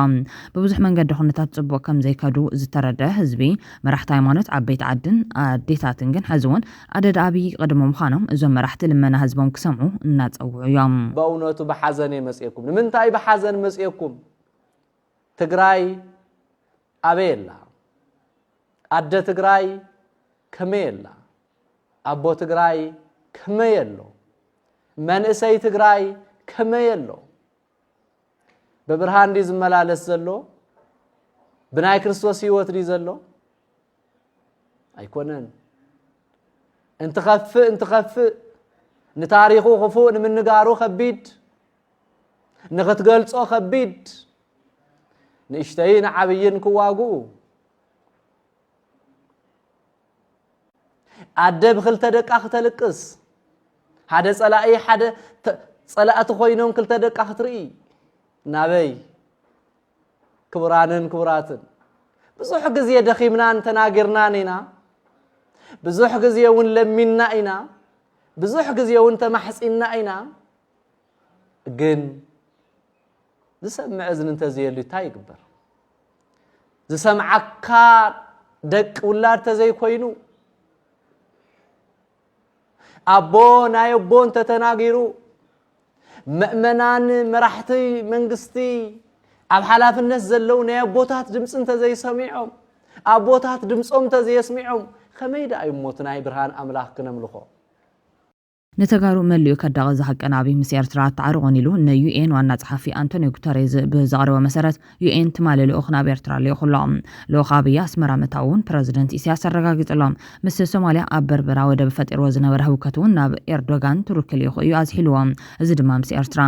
ብብዙሕ መንገዲ ኩነታት ጽቡቕ ከም ዘይከዱ ዝተረድኣ ህዝቢ፣ መራሕቲ ሃይማኖት፣ ዓበይቲ ዓድን ኣዴታትን ግን ሕዚ እውን ኣደዳ ኣብይ ይቕድሙ ምዃኖም እዞም መራሕቲ ልመና ህዝቦም ክሰምዑ እናጸውዑ እዮም። በእውነቱ ብሓዘን እየ መጺኤኩም። ንምንታይ ብሓዘን መጺኤኩም? ትግራይ ኣበይ ኣላ ኣደ ትግራይ ከመይ ኣላ ኣቦ ትግራይ ከመይ ኣሎ መንእሰይ ትግራይ ከመይ ኣሎ ብብርሃን ዲ ዝመላለስ ዘሎ ብናይ ክርስቶስ ህይወት ዲ ዘሎ ኣይኮነን እንትኸፍእ እንትኸፍእ ንታሪኹ ክፉእ ንምንጋሩ ከቢድ ንኽትገልጾ ከቢድ ንእሽተይን ዓብይን ክዋግኡ ኣደ ብክልተ ደቃ ክተልቅስ ሓደ ፀላኢ ሓደ ፀላእቲ ኮይኖም ክልተ ደቃ ክትርኢ ናበይ ክቡራንን ክቡራትን ብዙሕ ግዜ ደኺምናን ተናጊርናን ኢና ብዙሕ ግዜ እውን ለሚንና ኢና ብዙሕ ግዜ እውን ተማሕፂንና ኢና ግን ዝሰምዕ እዝኒ እንተዘየሉ እንታይ ይግበር? ዝሰምዓካ ደቂ ውላድ ተዘይኮይኑ ኣቦ ናይ ኣቦ እንተተናጊሩ መእመናን መራሕቲ መንግስቲ ኣብ ሓላፍነት ዘለዉ ናይ ኣቦታት ድምፂ እንተዘይሰሚዖም ኣቦታት ድምፆም እንተዘየስሚዖም ከመይ ደኣ እዩ ሞት ናይ ብርሃን ኣምላኽ ክነምልኾ ንተጋሩ መሊኡ ከዳቒ ዝሃቀነ ኣብይ ምስ ኤርትራ ኣተዓርቑን ኢሉ ን UN ዋና ጸሓፊ ኣንቶንዮ ጉተሬዝ ብዘቕረቦ መሰረት UN ትማሊ ልኡኽ ናብ ኤርትራ ልኢኹ ኣሎ። ልኡኽ ኣብይ ኣስመራ ምእታዉ እውን ፕረዚደንት ኢሳያስ ኣረጋጊጹ ኣሎ። ምስ ሶማልያ ኣብ በርበራ ወደብ ፈጢርዎ ዝነበረ ህውከት እውን ናብ ኤርዶጋን ቱርኪ ልኢኹ እዩ ኣዝሒልዎ። እዚ ድማ ምስ ኤርትራ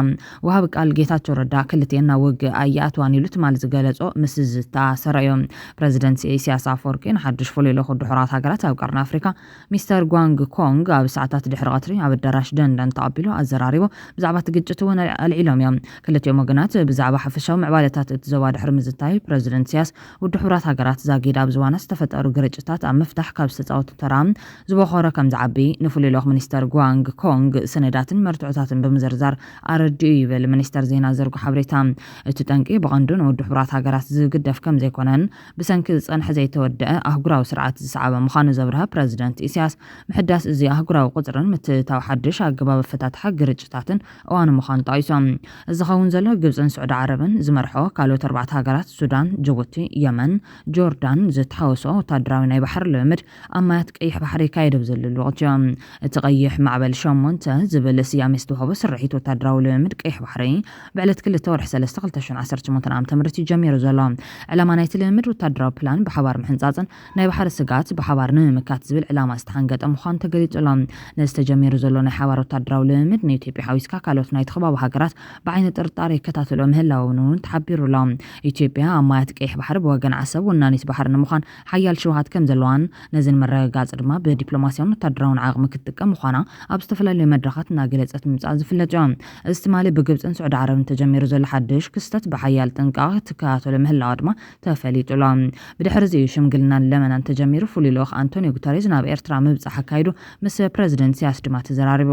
ወሃቢ ቃል ጌታቸው ረዳ ክልቲኤን ናብ ውግእ ኣይኣትዋን ኢሉ ትማሊ ዝገለጾ ምስ ዝተኣሰረ እዩ። ፕረዚደንት ኢሳያስ ኣፈወርቂ ንሓድሽ ፍሉይ ልኡኹ ድሑራት ሃገራት ኣብ ቀርኒ ኣፍሪካ ሚስተር ጓንግ ኮንግ ኣብ ሰዓታት ድሕሪ ቐትሪ ኣብ ኣዳራሽ ደንደን ተቐቢሉ ኣዘራሪቡ። ብዛዕባ እቲ ግጭት እውን ኣልዒሎም እዮም። ክልቲኦም ወገናት ብዛዕባ ሓፈሻዊ ምዕባለታት እቲ ዞባ ድሕሪ ምዝታይ፣ ፕረዚደንት ኢሳያስ ውድብ ሕቡራት ሃገራት ዛጊድ ኣብ ዝዋና ዝተፈጠሩ ግርጭታት ኣብ ምፍታሕ ካብ ዝተጻወቶ ተራ ዝቦኾረ ከም ዝዓቢ ንፍሉይ ልኡኽ ሚኒስተር ጓንግ ኮንግ ሰነዳትን መርትዖታትን ብምዝርዛር ኣረዲኡ ይብል ሚኒስተር ዜና ዘርጎ ሓበሬታ። እቲ ጠንቂ ብቐንዱ ንውድብ ሕቡራት ሃገራት ዝግደፍ ከም ዘይኮነን ብሰንኪ ዝጸንሐ ዘይተወደኣ ኣህጉራዊ ስርዓት ዝሰዓበ ምዃኑ ዘብርሀ ፕረዚደንት ኢሳያስ፣ ምሕዳስ እዚ ኣህጉራዊ ቁጽርን ምትእትታው ሓድሽ ኣገባብ ኣፈታትሓ ግርጭታትን እዋኑ ምዃኑ ጠቒሶም፣ እዚ ዝኸውን ዘሎ ግብጽን ስዑዲ ዓረብን ዝመርሕኦ ካልኦት ኣርባዕተ ሃገራት፣ ሱዳን፣ ጅቡቲ፣ የመን፣ ጆርዳን፣ ዝተሓወስኦ ወተሃደራዊ ናይ ባሕሪ ልምምድ ኣብ ማያት ቀይሕ ባሕሪ ይካየደብ ዘሎ ልዑኽ ጀ። እቲ ቀይሕ ማዕበል ሸሞንተ ዝብል ስያሜ ዝተውሃቦ ስርሒት ወታደራዊ ልምምድ ቀይሕ ባሕሪ ብዕለት ክልተ ወርሒ ሰለስተ ክልተ ሽሕን ዓሰርተ ሸሞንተን ዓመተ ምህረት እዩ ጀሚሩ ዘሎ። ዕላማ ናይቲ ልምምድ ወታደራዊ ፕላን ብሓባር ምሕንጻጽን ናይ ባሕሪ ስግኣት ብሓባር ንምምካት ዝብል ዕላማ ዝተሓንገጠ ምዃኑ ተገሊጹ ኣሎ። ነዚ ተጀሚሩ ዘሎ ናይ ሓባር ወታደራዊ ልምምድ ንኢትዮጵያ ሓዊስካ ካልኦት ናይቲ ከባቢ ሃገራት ብዓይኒ ጥርጣረ ይከታተልኦ ምህላወን'ውን ተሓቢሩ ኣሎ። ኢትዮጵያ ኣብ ማያት ቀይሕ ባሕሪ ብወገን ዓሰብ ወናኒት ባሕሪ ንምዃን ሓያል ሽውሃት ከም ዘለዋን ነዚ ንምርግጋጽ ድማ ብዲፕሎማስያውን ወታደራውን ዓቕሚ ክትጥቀም ምዃና ኣብ ዝተፈላለዩ መድረኻት እናገለጸት ምምጽኣ ዝፍለጥዮ። እዚ ትማሊ ብግብጽን ስዑዲ ዓረብን ተጀሚሩ ዘሎ ሓድሽ ክስተት ብሓያል ጥንቃቐ ክትከታተሎ ምህላዋ ድማ ተፈሊጡ'ሎ። ብድሕሪ'ዚ እዩ ሽምግልናን ለመናን ተጀሚሩ። ፍሉይ ልኡኽ ኣንቶንዮ ጉተሬዝ ናብ ኤርትራ ምብጻሕ ኣካይዱ፣ ምስ ፕረዚደንት ኢሳያስ ድማ ተዘራሪቡ።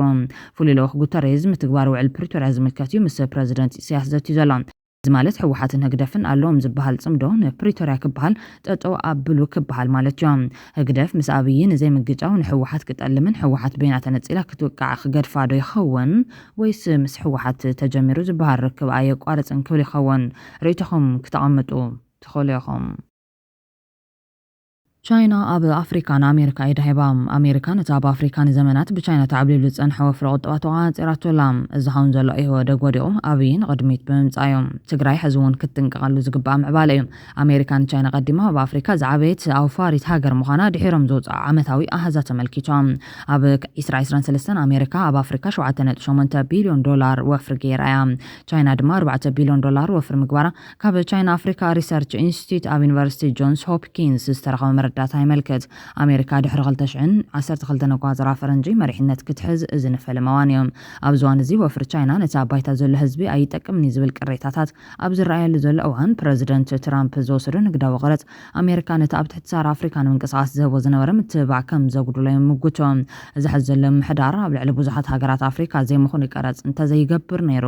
ፍሉይ ልኡኽ ጉተሬዝ፣ ምትግባር ውዕል ፕሪቶርያ ዝምልከት'ዩ ምስ ፕረዚደንት ኢሳያስ ዘትዩ ዘሎ። እዚ ማለት ህወሓትን ህግደፍን ኣሎዎም ዝብሃል ጽምዶ ንፕሪቶርያ ክብሃል ጠጠው ኣብሉ ክብሃል ማለትዮ። ህግደፍ ምስ ኣብዪ ንዘይምግጫው ንህወሓት ክጠልምን ህወሓት በይና ተነጺላ ክትውቃዕ ክገድፋ ዶ ይኸውን ወይስ ምስ ህወሓት ተጀሚሩ ዝብሃል ርክብ ኣየቋርጽን ክብል ይኸውን? ርእይቶኹም ክተቐምጡ ትኽእሉ ኢኹም። ቻይና ኣብ ኣፍሪካ ንኣሜሪካ ኢዳ ሂባ። ኣሜሪካ ነቲ ኣብ ኣፍሪካ ንዘመናት ብቻይና ተዓብሊሉ ዝፀንሐ ወፍሪ ቁጠባ ተቆፃፂራቶ ኣላ። እዚ ኸውን ዘሎ ኢህወደግ ወዲቑ ኣብይ ንቕድሚት ብምምፃእ እዩ። ትግራይ ሕዚ እውን ክትጥንቀቐሉ ዝግበኣ ምዕባለ እዩ። ኣሜሪካ ንቻይና ቀዲማ ኣብ ኣፍሪካ ዝዓበየት ኣውፋሪት ሃገር ምዃና ድሒሮም ዝውፅኣ ዓመታዊ ኣሃዛት ኣመልኪቶም። ኣብ ዕስራ ዕስራን ሰለስተን ኣሜሪካ ኣብ ኣፍሪካ ሸውዓተ ነጥቢ ሸሞንተ ቢልዮን ዶላር ወፍሪ ገይራ እያ። ቻይና ድማ ኣርባዕተ ቢልዮን ዶላር ወፍሪ ምግባራ ካብ ቻይና ኣፍሪካ ሪሰርች ኢንስቲትዩት ኣብ ዩኒቨርሲቲ ጆንስ ሆፕኪንስ ዝተረኸበ መረዳእታ የመልክት። ኣሜሪካ ድሕሪ ክልተ ሽሕን ዓሰርተ ክልተን ኣቆፃፅራ ፈረንጂ መሪሕነት ክትሕዝ እዚ ንፈለማ እዋን እዩ። ኣብዚ እዋን እዚ ወፍሪ ቻይና ነቲ ኣብ ባይታ ዘሎ ህዝቢ ኣይጠቅምን እዩ ዝብል ቅሬታታት ኣብ ዝረኣየሉ ዘሎ እዋን ፕረዚደንት ትራምፕ ዝወሰዶ ንግዳዊ ቐረፅ ኣሜሪካ ነቲ ኣብ ትሕቲ ሰሃራ ኣፍሪካ ንምንቅስቓስ ዝህቦ ዝነበረ ምትብባዕ ከም ዘጉድሎ ይምጉቱ። እዚ ሐዚ ዘሎ ምምሕዳር ኣብ ልዕሊ ብዙሓት ሃገራት ኣፍሪካ ዘይምኹኑይ ቀረፅ እንተዘይገብር ነይሩ፣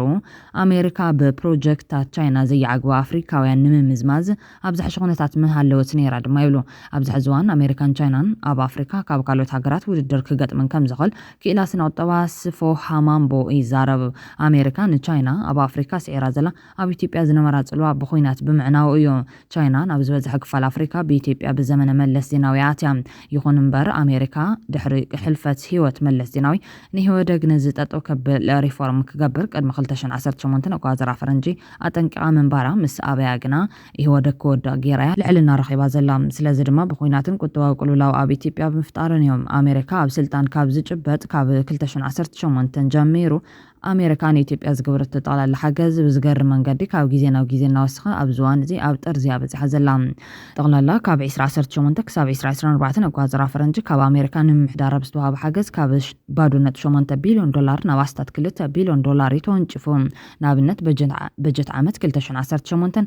ኣሜሪካ ብፕሮጀክትታት ቻይና ዘይዓግቡ ኣፍሪካውያን ንምምዝማዝ ኣብ ዝሐሸ ኩነታት ምሃለወት ነይራ ድማ ይብሉ። ኣብዚ ሐዚ እዋን ኣሜሪካን ቻይናን ኣብ ኣፍሪካ ካብ ካልኦት ሃገራት ውድድር ክገጥመን ከምዝኽእል ክኢላ ስነቁጠባ ስፎ ሃማምቦ ይዛረብ። ኣሜሪካ ንቻይና ኣብ ኣፍሪካ ስዒራ ዘላ ኣብ ኢትዮጵያ ዝነበራ ፅልዋ ብኹናት ብምዕናዉ እዩ። ቻይና ናብ ዝበዝሐ ክፋል ኣፍሪካ ብኢትዮጵያ ብዘመነ መለስ ዜናዊ እያ ኣትያ። ይኹን እምበር ኣሜሪካ ድሕሪ ሕልፈት ህይወት መለስ ዜናዊ ንኢህወደግ ነዚ ጠጠው ከብል ሪፎርም ክገብር ቅድሚ ክልተ ሽሕን ዓሰርተ ሸሞንተን ኣቆፃፅራ ፈረንጂ ኣጠንቂቓ ምንባራ ምስ ኣበያ ግና ኢህወደግ ክወድቕ ገይራ እያ ልዕልና ረኺባ ዘላ። ስለዚ ድማ ብኹናትን ቁጠባዊ ቅልውላው ኣብ ኢትዮጵያ ብምፍጣርን እዮም። ኣሜሪካ ኣብ ስልጣን ካብ ዝጭበጥ ካብ ክልተ ሽሕን ዓሰርተ ሸሞንተን ጀሚሩ ኣሜሪካ ንኢትዮጵያ ዝገበረቶ ጠቕላላ ሓገዝ ብዝገርም መንገዲ ካብ ግዜ ናብ ግዜ እናወሰኸ ኣብዚ እዋን እዚ ኣብ ጥርዚ እያ በጺሓ ዘላ። ጠቕላላ ካብ ዕስራ ዓሰርተ ሸሞንተ ክሳብ ዕስራ ዕስራን ኣርባዕተን ኣቆጻጽራ ፈረንጂ ካብ ኣሜሪካ ንምምሕዳራ ብዝተዋህበ ሓገዝ ካብ ባዶ ነጥቢ ሸሞንተ ቢልዮን ዶላር ናብ ኣስታት ክልተ ቢልዮን ዶላር እዩ ተወንጪፉ። ንኣብነት በጀት ዓመት ክልተ ሽሕን ዓሰርተ ሸሞንተን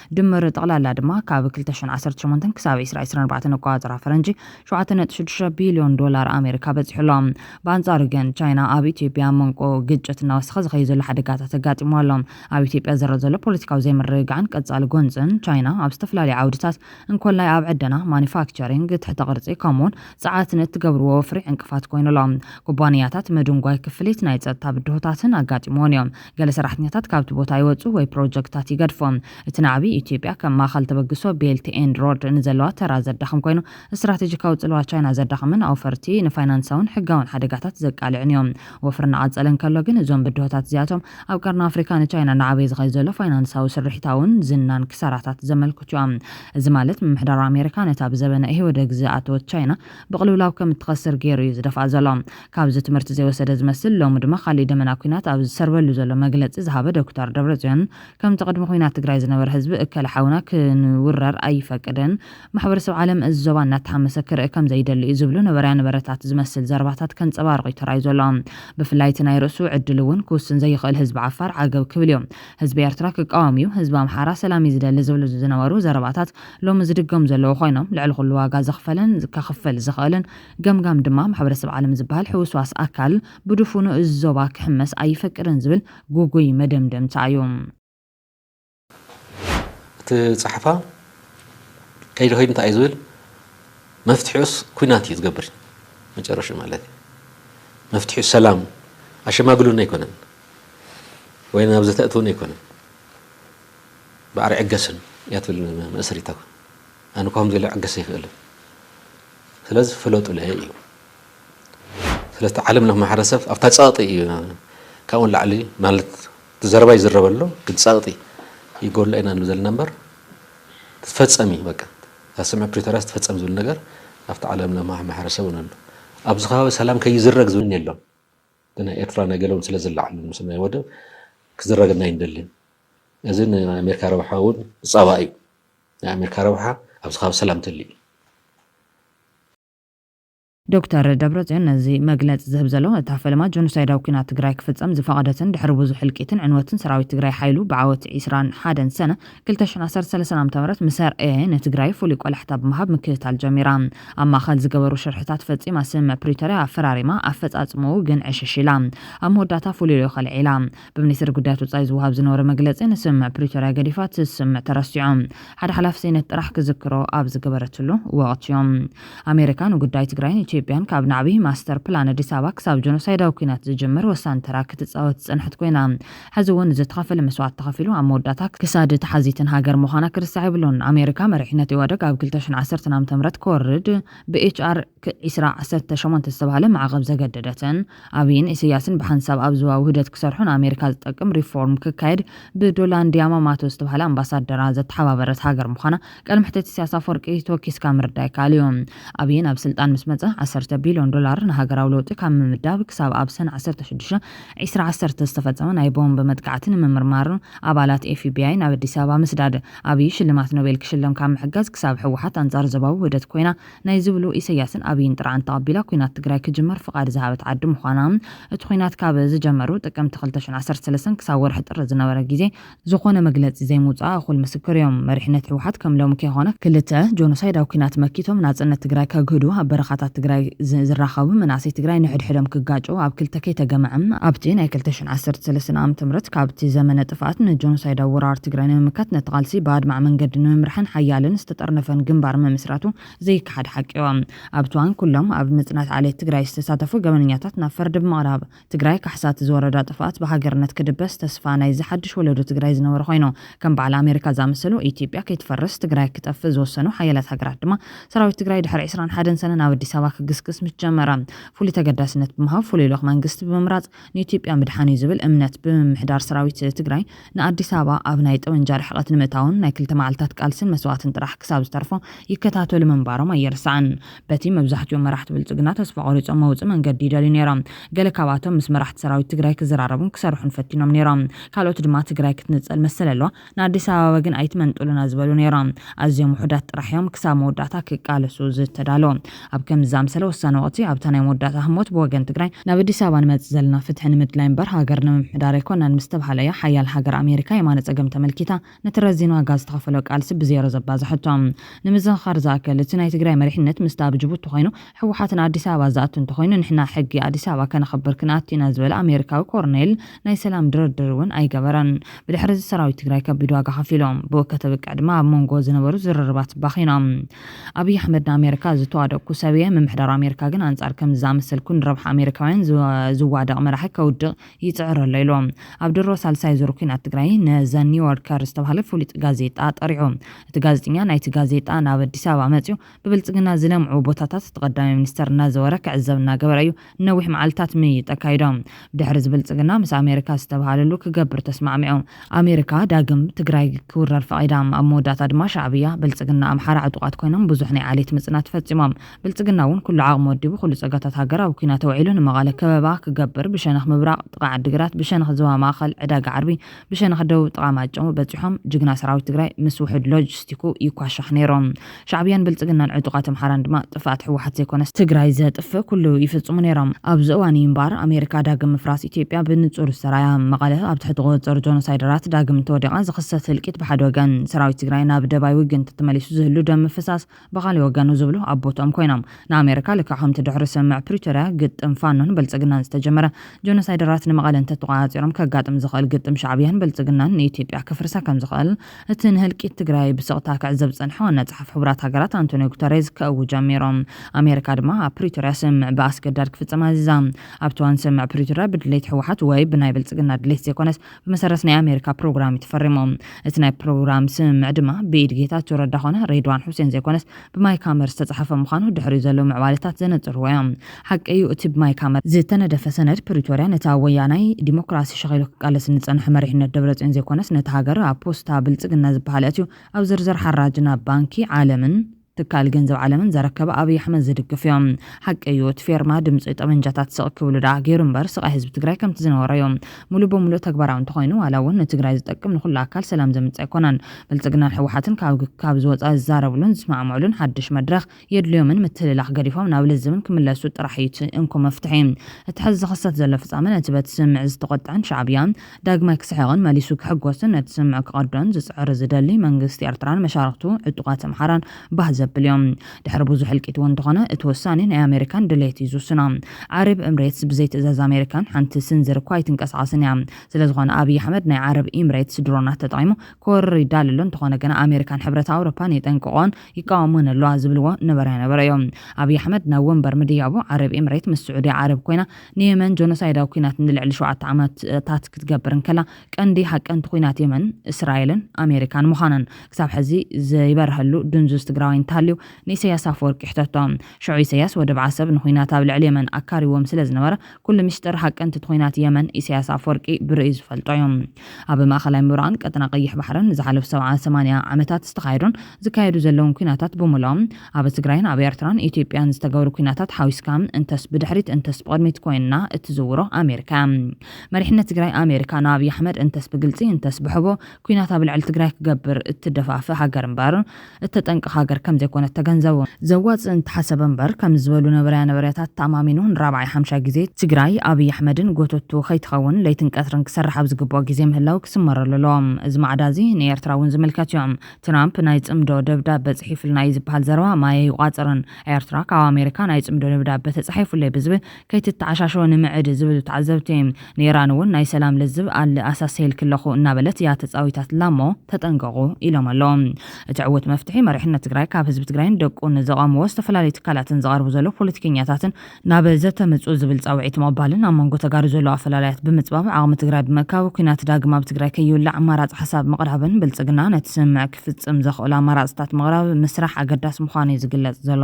ድምር ጠቕላላ ድማ ካብ ክልተ ሽሕን ዓሰርተ ሸሞንተን ክሳብ ዕስራ ዕስራን ኣርባዕተን ኣቆፃፅራ ፈረንጂ ሸውዓተ ነጥቢ ሽዱሽተ ቢልዮን ዶላር ኣሜሪካ በፂሑ ኣሎ። ብኣንፃሩ ግን ቻይና ኣብ ኢትዮጵያ ኣብ መንጎ ግጭት እናወሰኸ ዝኸይድ ዘሎ ሓደጋታት ኣጋጢምዋ ኣሎ። ኣብ ኢትዮጵያ ዝረእ ዘሎ ፖለቲካዊ ዘይምርግጋዕን ቀፃሊ ጎንፅን ቻይና ኣብ ዝተፈላለዩ ዓውድታት እንኮላይ ኣብ ዕደና፣ ማኑፋክቸሪንግ፣ ትሕተ ቅርፂ ከምኡ'ውን ፀዓት ንእትገብርዎ ወፍሪ ዕንቅፋት ኮይኑ ኣሎ። ኩባንያታት ምድንጓይ ክፍሊት ናይ ፀጥታ ብድሆታትን ኣጋጢምወን እዮም። ገለ ሰራሕተኛታት ካብቲ ቦታ ይወጹ ወይ ፕሮጀክትታት ይገድፉ። እቲ ናዕቢ፣ ኢትዮጵያ ከም ማእከል ተበግሶ ቤልት ኤንድ ሮድ ንዘለዋ ተራ ዘዳኽም ኮይኑ፣ ስትራቴጂካዊ ጽልዋ ቻይና ዘዳኽምን ኣውፈርቲ ንፋይናንሳውን ሕጋውን ሓደጋታት ዘቃልዕን እዩ። ወፍሪ እናቐጸለ እንከሎ ግን፣ እዞም ብድሆታት እዚኣቶም ኣብ ቀርኒ ኣፍሪካ ንቻይና እናዓበየ ዝኸይድ ዘሎ ፋይናንሳዊ ስርሒታውን ዝናን ክሳራታት ዘመልክቱ እዮም። እዚ ማለት ምምሕዳር ኣሜሪካ ነታ ብዘበነ ኢህወደግ ዝኣተወት ቻይና ብቕልውላው ከም እትኸስር ገይሩ እዩ ዝደፍኣ ዘሎ። ካብዚ ትምህርቲ ዘይወሰደ ዝመስል ሎሚ ድማ ካሊእ ደመና ኩናት ኣብ ዝሰርበሉ ዘሎ መግለፂ ዝሃበ ዶክተር ደብረፅዮን ከምቲ ቅድሚ ኩናት ትግራይ ዝነበረ ህዝቢ እከለ ሓውና ክንውረር ኣይፈቅድን ማሕበረሰብ ዓለም እዚ ዞባ እናተሃመሰ ክርእ ከምዘይደሊ እዩ ዝብሉ ነበረያ ነበረታት ዝመስል ዘረባታት ከንፀባርቕ እዩ ተራእዩ ዘሎ ብፍላይ እቲ ናይ ርእሱ ዕድል እውን ክውስን ዘይኽእል ህዝቢ ዓፋር ዓገብ ክብል እዩ ህዝቢ ኤርትራ ክቃወም እዩ ህዝቢ ኣምሓራ ሰላም እዩ ዝደሊ ዝብሉ ዝነበሩ ዘረባታት ሎሚ ዝድገሙ ዘለዉ ኮይኖም ልዕሊ ኩሉ ዋጋ ዘኽፈለን ከኽፍል ዝኽእልን ገምጋም ድማ ማሕበረሰብ ዓለም ዝበሃል ሕውስዋስ ኣካል ብድፉኑ እዚ ዞባ ክሕመስ ኣይፈቅድን ዝብል ግጉይ መደምደምታ እዩ። እቲ ጸሓፋ ከይዲ ከይዱ እንታይ እዩ ዝብል መፍትሒኡስ ኩናት እዩ ዝገብር መጨረሹ ማለት እዩ መፍትሒኡ ሰላም ኣሸማግሉን ኣይኮነን ወይ ናብ ዘተእትውን ኣይኮነን ባዕሪ ዕገስን እያ ትብል መእሰሪታ ኣነ ከምዚ ኢለ ዕገሰ ይኽእልን ስለዚ ፍለጡለይ እዩ ስለቲ ዓለም ለኽ ማሕረሰብ ኣብታ ጸቕጢ እዩ ካብኡ ንላዕሊ ማለት ዘረባ ይዝረበሎ ግን ጸቕጢ ይጎላ ኢና ንብል ዘለና እምበር ትፈጸም እዩ በቃ እዛ ስምዕ ፕሪቶርያ ትፈጸም ዝብል ነገር ኣብቲ ዓለም ለኽ ማሕረሰብ እውን ኣሎ ኣብዚ ከባቢ ሰላም ከይዝረግ ዝብልን የሎን ብናይ ኤርትራ ናይ ገለውን ስለ ዝለዓሉ ምስ ናይ ወደብ ክዝረገልና ኣይንደልን እዚ ንኣሜሪካ ረብሓ እውን ጸባ እዩ ናይ ኣሜርካ ረብሓ ኣብ ዝካብ ሰላም ተልዩ። ዶክተር ደብረፅዮን ነዚ መግለፂ ዝህብ ዘሎ እታ ፈለማ ጆኖሳይዳዊ ኲናት ትግራይ ክፍፀም ዝፈቐደትን ድሕሪ ብዙሕ ህልቂትን ዕንወትን ሰራዊት ትግራይ ሓይሉ ብዓወት ዒስራን ሓደን ሰነ ክልተ ሽሕን ዓሰርተ ሰለስተ ዓ ም ምስ ኣርኣየ ንትግራይ ፍሉይ ቆላሕታ ብምሃብ ምክትታል ጀሚራ ኣብ ማእኸል ዝገበሩ ሽርሕታት ፈፂማ ስምምዕ ፕሪቶርያ ኣፈራሪማ ኣፈፃፅምኡ ግን ዕሽሽ ኢላ ኣብ መወዳእታ ፍሉልዮኸ ኣልዒላ ብሚኒስትሪ ጉዳያት ወጻኢ ዝወሃብ ዝነበረ መግለጺ ንስምምዕ ፕሪቶርያ ገዲፋ እቲ ስምምዕ ተረሲዑ ሓደ ሓላፊ ሴነት ጥራሕ ክዝክሮ ኣብ ዝገበረትሉ ወቕቲዮ ኣሜሪካ ንጉዳይ ትግራይን ኢትዮጵያን ካብ ናዕቢ ማስተር ፕላን ኣዲስ ኣበባ ክሳብ ጀኖሳይዳዊ ኲናት ዝጅምር ወሳኒ ተራ ክትጻወት ዝጸንሐት ኮይና ሕዚ እውን ዝተኸፈለ መስዋእቲ ተኸፊሉ ኣብ መወዳእታ ክሳድ ተሓዚትን ሃገር ምዃና ክርሳዕ የብሉን። ኣሜሪካ መሪሕነት ኢዋደግ ኣብ ክልተ ሽሕን ዓሰርተን ዓመተ ምህረት ክወርድ ብኤች ኣር ክ ዒስራ ዓሰርተ ሸሞንተ ዝተባህለ ማዕቐብ ዘገደደትን፣ ኣብይን ኢሰያስን ብሓንሳብ ኣብ ዞባ ውህደት ክሰርሑ ንኣሜሪካ ዝጠቅም ሪፎርም ክካየድ ብዶላንድ ያማማቶ ዝተብሃለ ኣምባሳደራ ዘተሓባበረት ሃገር ምዃና ቃል መሕተት ኢሰያስ ኣፈወርቂ ተወኪስካ ምርዳእ ይከኣል እዩ። ኣብይ ናብ ስልጣን ምስ መጸ ዓሰርተ ቢልዮን ዶላር ንሃገራዊ ለውጢ ካብ ምምዳብ ክሳብ ኣብ ሰነ ዓሰርተ ሽዱሽተ ዕስራ ዓሰርተ ዝተፈጸመ ናይ ቦምብ መጥቃዕቲ ንምምርማር ኣባላት ኤፍቢኣይ ናብ ኣዲስ ኣበባ ምስዳድ ኣብይ ሽልማት ኖቤል ክሽለም ካብ ምሕጋዝ ክሳብ ህወሓት ኣንጻር ዞባዊ ውህደት ኮይና ናይ ዝብሉ ኢሰያስን ኣብይን ጥርዓን ተቐቢላ ኩናት ትግራይ ክጅመር ፍቓድ ዝሃበት ዓዲ ምዃና እቲ ኩናት ካብ ዝጀመሩ ጥቅምቲ ክልተ ሽሕ ዓሰርተ ሰለስተ ክሳብ ወርሒ ጥሪ ዝነበረ ጊዜ ዝኾነ መግለጺ ዘይምውጽኣ እኹል ምስክር እዮም። መሪሕነት ህወሓት ከም ሎሚ ከይኾነ ክልተ ጆኖሳይዳዊ ኩናት መኪቶም ናጽነት ትግራይ ከግህዱ ኣብ በረኻታት ትግራይ ዝራኸቡ መናእሰይ ትግራይ ንሕድሕዶም ክጋጨዉ ኣብ ክልተ ከይተገምዐ ኣብቲ ናይ ክልተ ሽሕ ዓሰርተ ሰለስተ ዓመተ ምህረት ካብቲ ዘመነ ጥፍኣት ንጆኖሳይዳዊ ወራር ትግራይ ንምምካት ነቲ ቃልሲ ብኣድማዒ መንገዲ ንምምራሕን ሓያልን ዝተጠርነፈን ግንባር ምምስራቱ ዘይከሓድ ሓቂዮ። ኣብቲ እዋን ኩሎም ኣብ ምፅናት ዓሌት ትግራይ ዝተሳተፉ ገበነኛታት ናብ ፍርዲ ብምቕራብ ትግራይ ካሕሳ እቲ ዝወረዳ ጥፍኣት ብሃገርነት ክድበስ ተስፋ ናይዚ ሓዱሽ ወለዶ ትግራይ ዝነበረ ኮይኑ ከም በዓል ኣሜሪካ ዝኣመሰሉ ኢትዮጵያ ከይትፈርስ ትግራይ ክጠፍእ ዝወሰኑ ሓያላት ሃገራት ድማ ሰራዊት ትግራይ ድሕሪ ዕስራን ሓደን ሰነ ናብ ኣዲስ ኣበባ ክግስግስ ምስ ጀመረ ፍሉይ ተገዳስነት ብምሃብ ፍሉይ ልኡኽ መንግስቲ ብምምራፅ ንኢትዮጵያ ምድሓን እዩ ዝብል እምነት ብምምሕዳር ሰራዊት ትግራይ ንኣዲስ ኣበባ ኣብ ናይ ጠበንጃ ርሕቐት ንምእታውን ናይ ክልተ መዓልትታት ቃልስን መስዋእትን ጥራሕ ክሳብ ዝተርፎ ይከታተሉ ምንባሮም ኣይርሳዕን። በቲ መብዛሕቲኦም መራሕቲ ብልፅግና ተስፋ ቆሪፆም መውፅኢ መንገዲ ይደልዩ ነይሮም። ገለ ካብኣቶም ምስ መራሕቲ ሰራዊት ትግራይ ክዘራረቡን ክሰርሑን ፈቲኖም ነይሮም። ካልኦት ድማ ትግራይ ክትንፀል መሰል ኣለዋ፣ ንኣዲስ ኣበባ ግን ኣይትመንጥሉና ዝበሉ ነይሮም። ኣዝዮም ውሑዳት ጥራሕ እዮም ክሳብ መወዳእታ ክቃለሱ ዝተዳለዉ። ኣብ ከምዚ ዝኣምሰለ ወሳኒ ወቕቲ፣ ኣብታ ናይ መወዳእታ ህሞት ብወገን ትግራይ፣ ናብ ኣዲስ ኣበባ ንመጽእ ዘለና ፍትሒ ንምድላይ እምበር ሃገር ንምምሕዳር ኣይኮናን ምስ ተብሃለ እያ ሓያል ሃገር ኣሜሪካ የማነ ጸገም ተመልኪታ ነቲ ረዚን ዋጋ ዝተኸፈሎ ቃልሲ ብዜሮ ዘባዘሐቶ። ንምዝኽኻር ዝኣከል፣ እቲ ናይ ትግራይ መሪሕነት ምስታ ኣብ ጅቡቲ ኮይኑ፣ ህወሓት ንኣዲስ ኣበባ ዝኣቱ እንተኾይኑ ንሕና ሕጊ ኣዲስ ኣበባ ከነኽብር ክንኣቱ ኢና ዝበለ ኣሜሪካዊ ኮረኔል ናይ ሰላም ድርድር እውን ኣይገበረን። ብድሕሪ እዚ ሰራዊት ትግራይ ከቢድ ዋጋ ከፊሉ። ብኡ ከተብቅዕ ድማ ኣብ ሞንጎ ዝነበሩ ዝርርባት ባኺኖም። ኣብይ ኣሕመድ ንኣሜሪካ ዝተዋደቕኩ ሰብ እየ፣ ምምሕዳር ኣሜሪካ ግን ኣንፃር ከምዚ ዝኣመሰልኩ ንረብሓ ኣሜሪካውያን ዝዋደቕ መራሒ ከውድቕ ይፅዕር ኣሎ ኢሉ። ኣብ ድሮ ሳልሳይ ዙር ኲናት ትግራይ ን ዘ ኒውዮርከር ዝተብሃለ ፍሉጥ ጋዜጣ ጠሪዑ። እቲ ጋዜጠኛ ናይቲ ጋዜጣ ናብ ኣዲስ ኣበባ መፂኡ ብብልፅግና ዝለምዑ ቦታታት እቲ ቀዳማይ ሚኒስተር እናዘወረ ክዕዘብ እናገበረ እዩ ንነዊሕ መዓልትታት ምይይጥ ኣካይዶም። ድሕሪ እዚ ብልፅግና ምስ ኣሜሪካ ዝተብሃለሉ ክገብር ተስማዕሚዑ። ኣሜሪካ ዳግም ትግራይ ክውረር ፈቒዳ። ኣብ መወዳእታ ድማ ሻዕብያ፣ ብልፅግና፣ ኣምሓራ ዕጡቓት ኮይኖም ብዙሕ ናይ ዓሌት ምፅናት ፈፂሞም። ብልፅግና እውን ኩሉ ዓቕሙ ወዲቡ ኩሉ ፀጋታት ሃገር ኣብ ኲናት ኣውዒሉ ንመቐለ ከበባ ክገብር ብሸነኽ ምብራቕ ጥቓ ዓዲግራት፣ ብሸነኽ ዞባ ማእኸል ዕዳጋ ዓርቢ፣ ብሸነኽ ደቡብ ጥቓ ማጨው በጺሖም ጅግና ሰራዊት ትግራይ ምስ ውሑድ ሎጅስቲኩ ይኳሻሕ ነይሩ። ሻዕብያን ብልጽግናን ዕጡቓት ኣምሓራን ድማ ጥፍኣት ህወሓት ዘይኮነስ ትግራይ ዘጥፍእ ኩሉ ይፍጽሙ ነይሮም። ኣብዚ እዋን እዩ እምበኣር ኣሜሪካ ዳግም ምፍራስ ኢትዮጵያ ብንጹር ዝተራእያ። መቐለ ኣብ ትሕቲ ቁጽጽር ጆኖሳይደራት ዳግም እንተወዲቓ ዝኽሰት ህልቂት ብሓደ ወገን፣ ሰራዊት ትግራይ ናብ ደባይ ውግንት ተመሊሱ ዝህሉ ደም ምፍሳስ፣ ብኻሊእ ወገን ዝብሉ ኣብ ቦትኦም ኮይኖም ንኣሜሪካ ልክዕ ከምቲ ድሕሪ ስምምዕ ፕሪቶርያ ግጥም ፋኖን ብልፅግናን ዝተጀመረ ጆኖሳይደራት ንመቐለ እንተተቖፃፂሮም ከጋጥም ዝኽእል ግጥም ሻዕብያን ብልፅግናን ንኢትዮጵያ ከፍርሳ ከምዝኽእል እቲ ንህልቂት ትግራይ ብስቕታ ክዕዘብ ዝፀንሐ ዋና ፀሓፊ ሕቡራት ሃገራት ኣንቶንዮ ጉተሬዝ ከእውጅ ጀሚሩ። ኣሜሪካ ድማ ኣብ ፕሪቶርያ ስምምዕ ብኣስገዳድ ክፍፀም ኣዚዛ። ኣብቲ እዋን ስምምዕ ፕሪቶርያ ብድሌት ህወሓት ወይ ብናይ ብልፅግና ድሌት ዘይኮነስ ብመሰረት ናይ ኣሜሪካ ፕሮግራም እዩ ተፈሪሙ። እቲ ናይ ፕሮግራም ስምምዕ ድማ ብኢድ ጌታቸው ረዳ ኮነ ሬድዋን ሑሴን ዘይኮነስ ብማይ ካመር ዝተፅሓፈ ምዃኑ ድሕሪኡ ዘለዉ ምዕባሌታት ዘነፅርዎ እዮም። ሓቂ እዩ እቲ ብማይ ካመር ዝተነደፈ ሰነድ ፕሪቶርያ ነቲ ኣብ ወያናይ ዲሞክራሲ ሸኺሉ ክቃለስ ንፀንሐ መሪሕነት ደብረፅዮን ዘይኮነስ ነታ ሃገር ኣብ ፖስታ ብልፅግና ዝበሃል ኣእትዩ ኣብ ዝርዝር ሓራጅን ኣብ ባንኪ ዓለምን ትካል ገንዘብ ዓለምን ዘረከበ ኣብይ ኣሕመድ ዝድግፍ ዩ። ሓቂ እዩ እቲ ፌርማ ድምፂ ጠበንጃታት ስቅ ክብሉ ድኣ ገይሩ እምበር ስቃይ ህዝቢ ትግራይ ከምቲ ዝነበሮ ዩ ሙሉእ ብሙሉእ ተግባራዊ እንተኾይኑ ዋላ ውን ንትግራይ ዝጠቅም ንኹሉ ኣካል ሰላም ዘምፅእ ኣይኮነን ብልፅግናን ህወሓትን ካብ ዝወፃ ዝዛረብሉን ዝስማዕምዕሉን ሓዱሽ መድረኽ የድልዮምን ምትህልላኽ ገዲፎም ናብ ልዝብን ክምለሱ ጥራሕ እዩ እቲ እንኮ መፍትሒ እቲ ሐዚ ዝኽሰት ዘሎ ፍፃመ ነቲ በቲ ስምምዕ ዝተቖጠዐን ሻዕብያ ዳግማይ ክስሕቕን መሊሱ ክሕጎስን ነቲ ስምዕ ክቐዶን ዝጽዕር ዝደሊ መንግስቲ ኤርትራን መሻርኽቱ ዕጡቓት ኣምሓራን ባህ ዘብል ኢዮ። ድሕሪ ብዙሕ ህልቂት እውን እንተኾነ እቲ ውሳኔ ናይ ኣሜሪካን ድሌት ኢዩ ዝውስኖ። ዓረብ እምሬትስ ብዘይ ትእዛዝ ኣሜሪካን ሓንቲ ስንዝር እኳ ኣይትንቀሳቐስን ኢያ። ስለዝኾነ ኣብይ ኣሕመድ ናይ ዓረብ ኢምሬትስ ድሮናት ተጠቒሙ ክወርር ይዳሎ ኣሎ። እንተኾነ ግና ኣሜሪካን ሕብረት ኣውሮፓን የጠንቅቕኦን ይቃወሙን ኣለዋ ዝብልዎ ነበረ ነበረ እዮ። ኣብይ ኣሕመድ ናብ ወንበር ምድያቡ ዓረብ ኤምሬት ምስ ስዑድያ ዓረብ ኮይና ንየመን ጆኖሳይዳዊ ኩናት ንልዕሊ ሸውዓተ ዓመታት ክትገብር እንከላ ቀንዲ ሃቀንቲ ኩናት የመን እስራኤልን ኣሜሪካን ምዃነን ክሳብ ሕዚ ዘይበርሀሉ ድንዙዝ ትግራዋይ እንተሃልዩ ንኢሰያስ ኣፈወርቂ ይሕተቶ። ሸዑ ኢሰያስ ወደብ ዓሰብ ንኩናት ኣብ ልዕሊ የመን ኣካሪዎም ስለዝነበረ ኩሉ ሚስጥር ሃቀንቲት ኹናት የመን ኢሳያስ ኣፍወርቂ ብርእዩ ዝፈልጦ እዩ። ኣብ ማእኸላይ ምብራቕን ቀጠና ቀይሕ ባሕርን ንዝሓለፉ ሰብዓ ሰማንያ ዓመታት ዝተኻየዱን ዝካየዱ ዘለዉን ኲናታት ብምልኦም ኣብ ትግራይን ኣብ ኤርትራን ኢትዮጵያን ዝተገብሩ ኲናታት ሓዊስካ እንተስ ብድሕሪት እንተስ ብቕድሚት ኮይና እትዝውሮ ኣሜሪካ እያ። መሪሕነት ትግራይ ኣሜሪካ ንኣብይ ኣሕመድ እንተስ ብግልፂ እንተስ ብሕቡእ ኲናት ኣብ ልዕሊ ትግራይ ክገብር እትደፋፍእ ሃገር እምበር እተጠንቅቕ ሃገር ከም ዘይኮነት ተገንዘቡ። ዘዋጽእ እንተሓሰበ እምበር ከምዚ ዝበሉ ነበረያ ነበረያታት ተኣማሚኑ ንራብዓይ ሓምሻይ ግዜ ትግራይ ኣብይ ኣሕመድን ጎተትቱ ከይትኸውን ለይትን ቀትርን ክሰርሕ ኣብ ዝግብኦ ግዜ ምህላው ክስመረሉ ኣለዎ። እዚ ማዕዳ እዚ ንኤርትራ እውን ዝምልከት እዩ። ትራምፕ ናይ ጽምዶ ደብዳበ ጽሒፉልና እዩ ዝበሃል ዘረባ ማይ ኣይቋጽርን። ኤርትራ ካብ ኣሜሪካ ናይ ጽምዶ ደብዳበ ተጻሒፉለይ ብዝብል ከይትተዓሻሾ ንምዕድ ዝብሉ ተዓዘብቲ። ንኢራን እውን ናይ ሰላም ልዝብ ኣል ኣሳሰየልኪ ኣለኹ እናበለት እያ ተጻዊታትላ እሞ ተጠንቀቑ ኢሎም ኣለዉ። እቲ ዕዉት መፍትሒ መሪሕነት ትግራይ ካብ ህዝቢ ትግራይን ደቁን ዘቐምዎ ዝተፈላለዩ ትካላትን ዝቐርቡ ዘለዉ ፖለቲከኛታትን ናብ ዘተ ምጹ ዝብል ጻውዒት ምቕባልን ኣብ መንጎ ተጋሩ ዘለዉ ኣፈላላያት ብምጽባብ ዓቕሚ ትግራይ ብምእካብ ኲናት ዳግም ኣብ ትግራይ ከይውላዕ ኣማራጺ ሓሳብ ምቕራብን ብልጽግና ነቲ ስምምዕ ክፍጽም ዘኽእሎ ኣማራጽታት ምቕራብ ምስራሕ ኣገዳሲ ምዃኑ እዩ ዝግለጽ ዘሎ።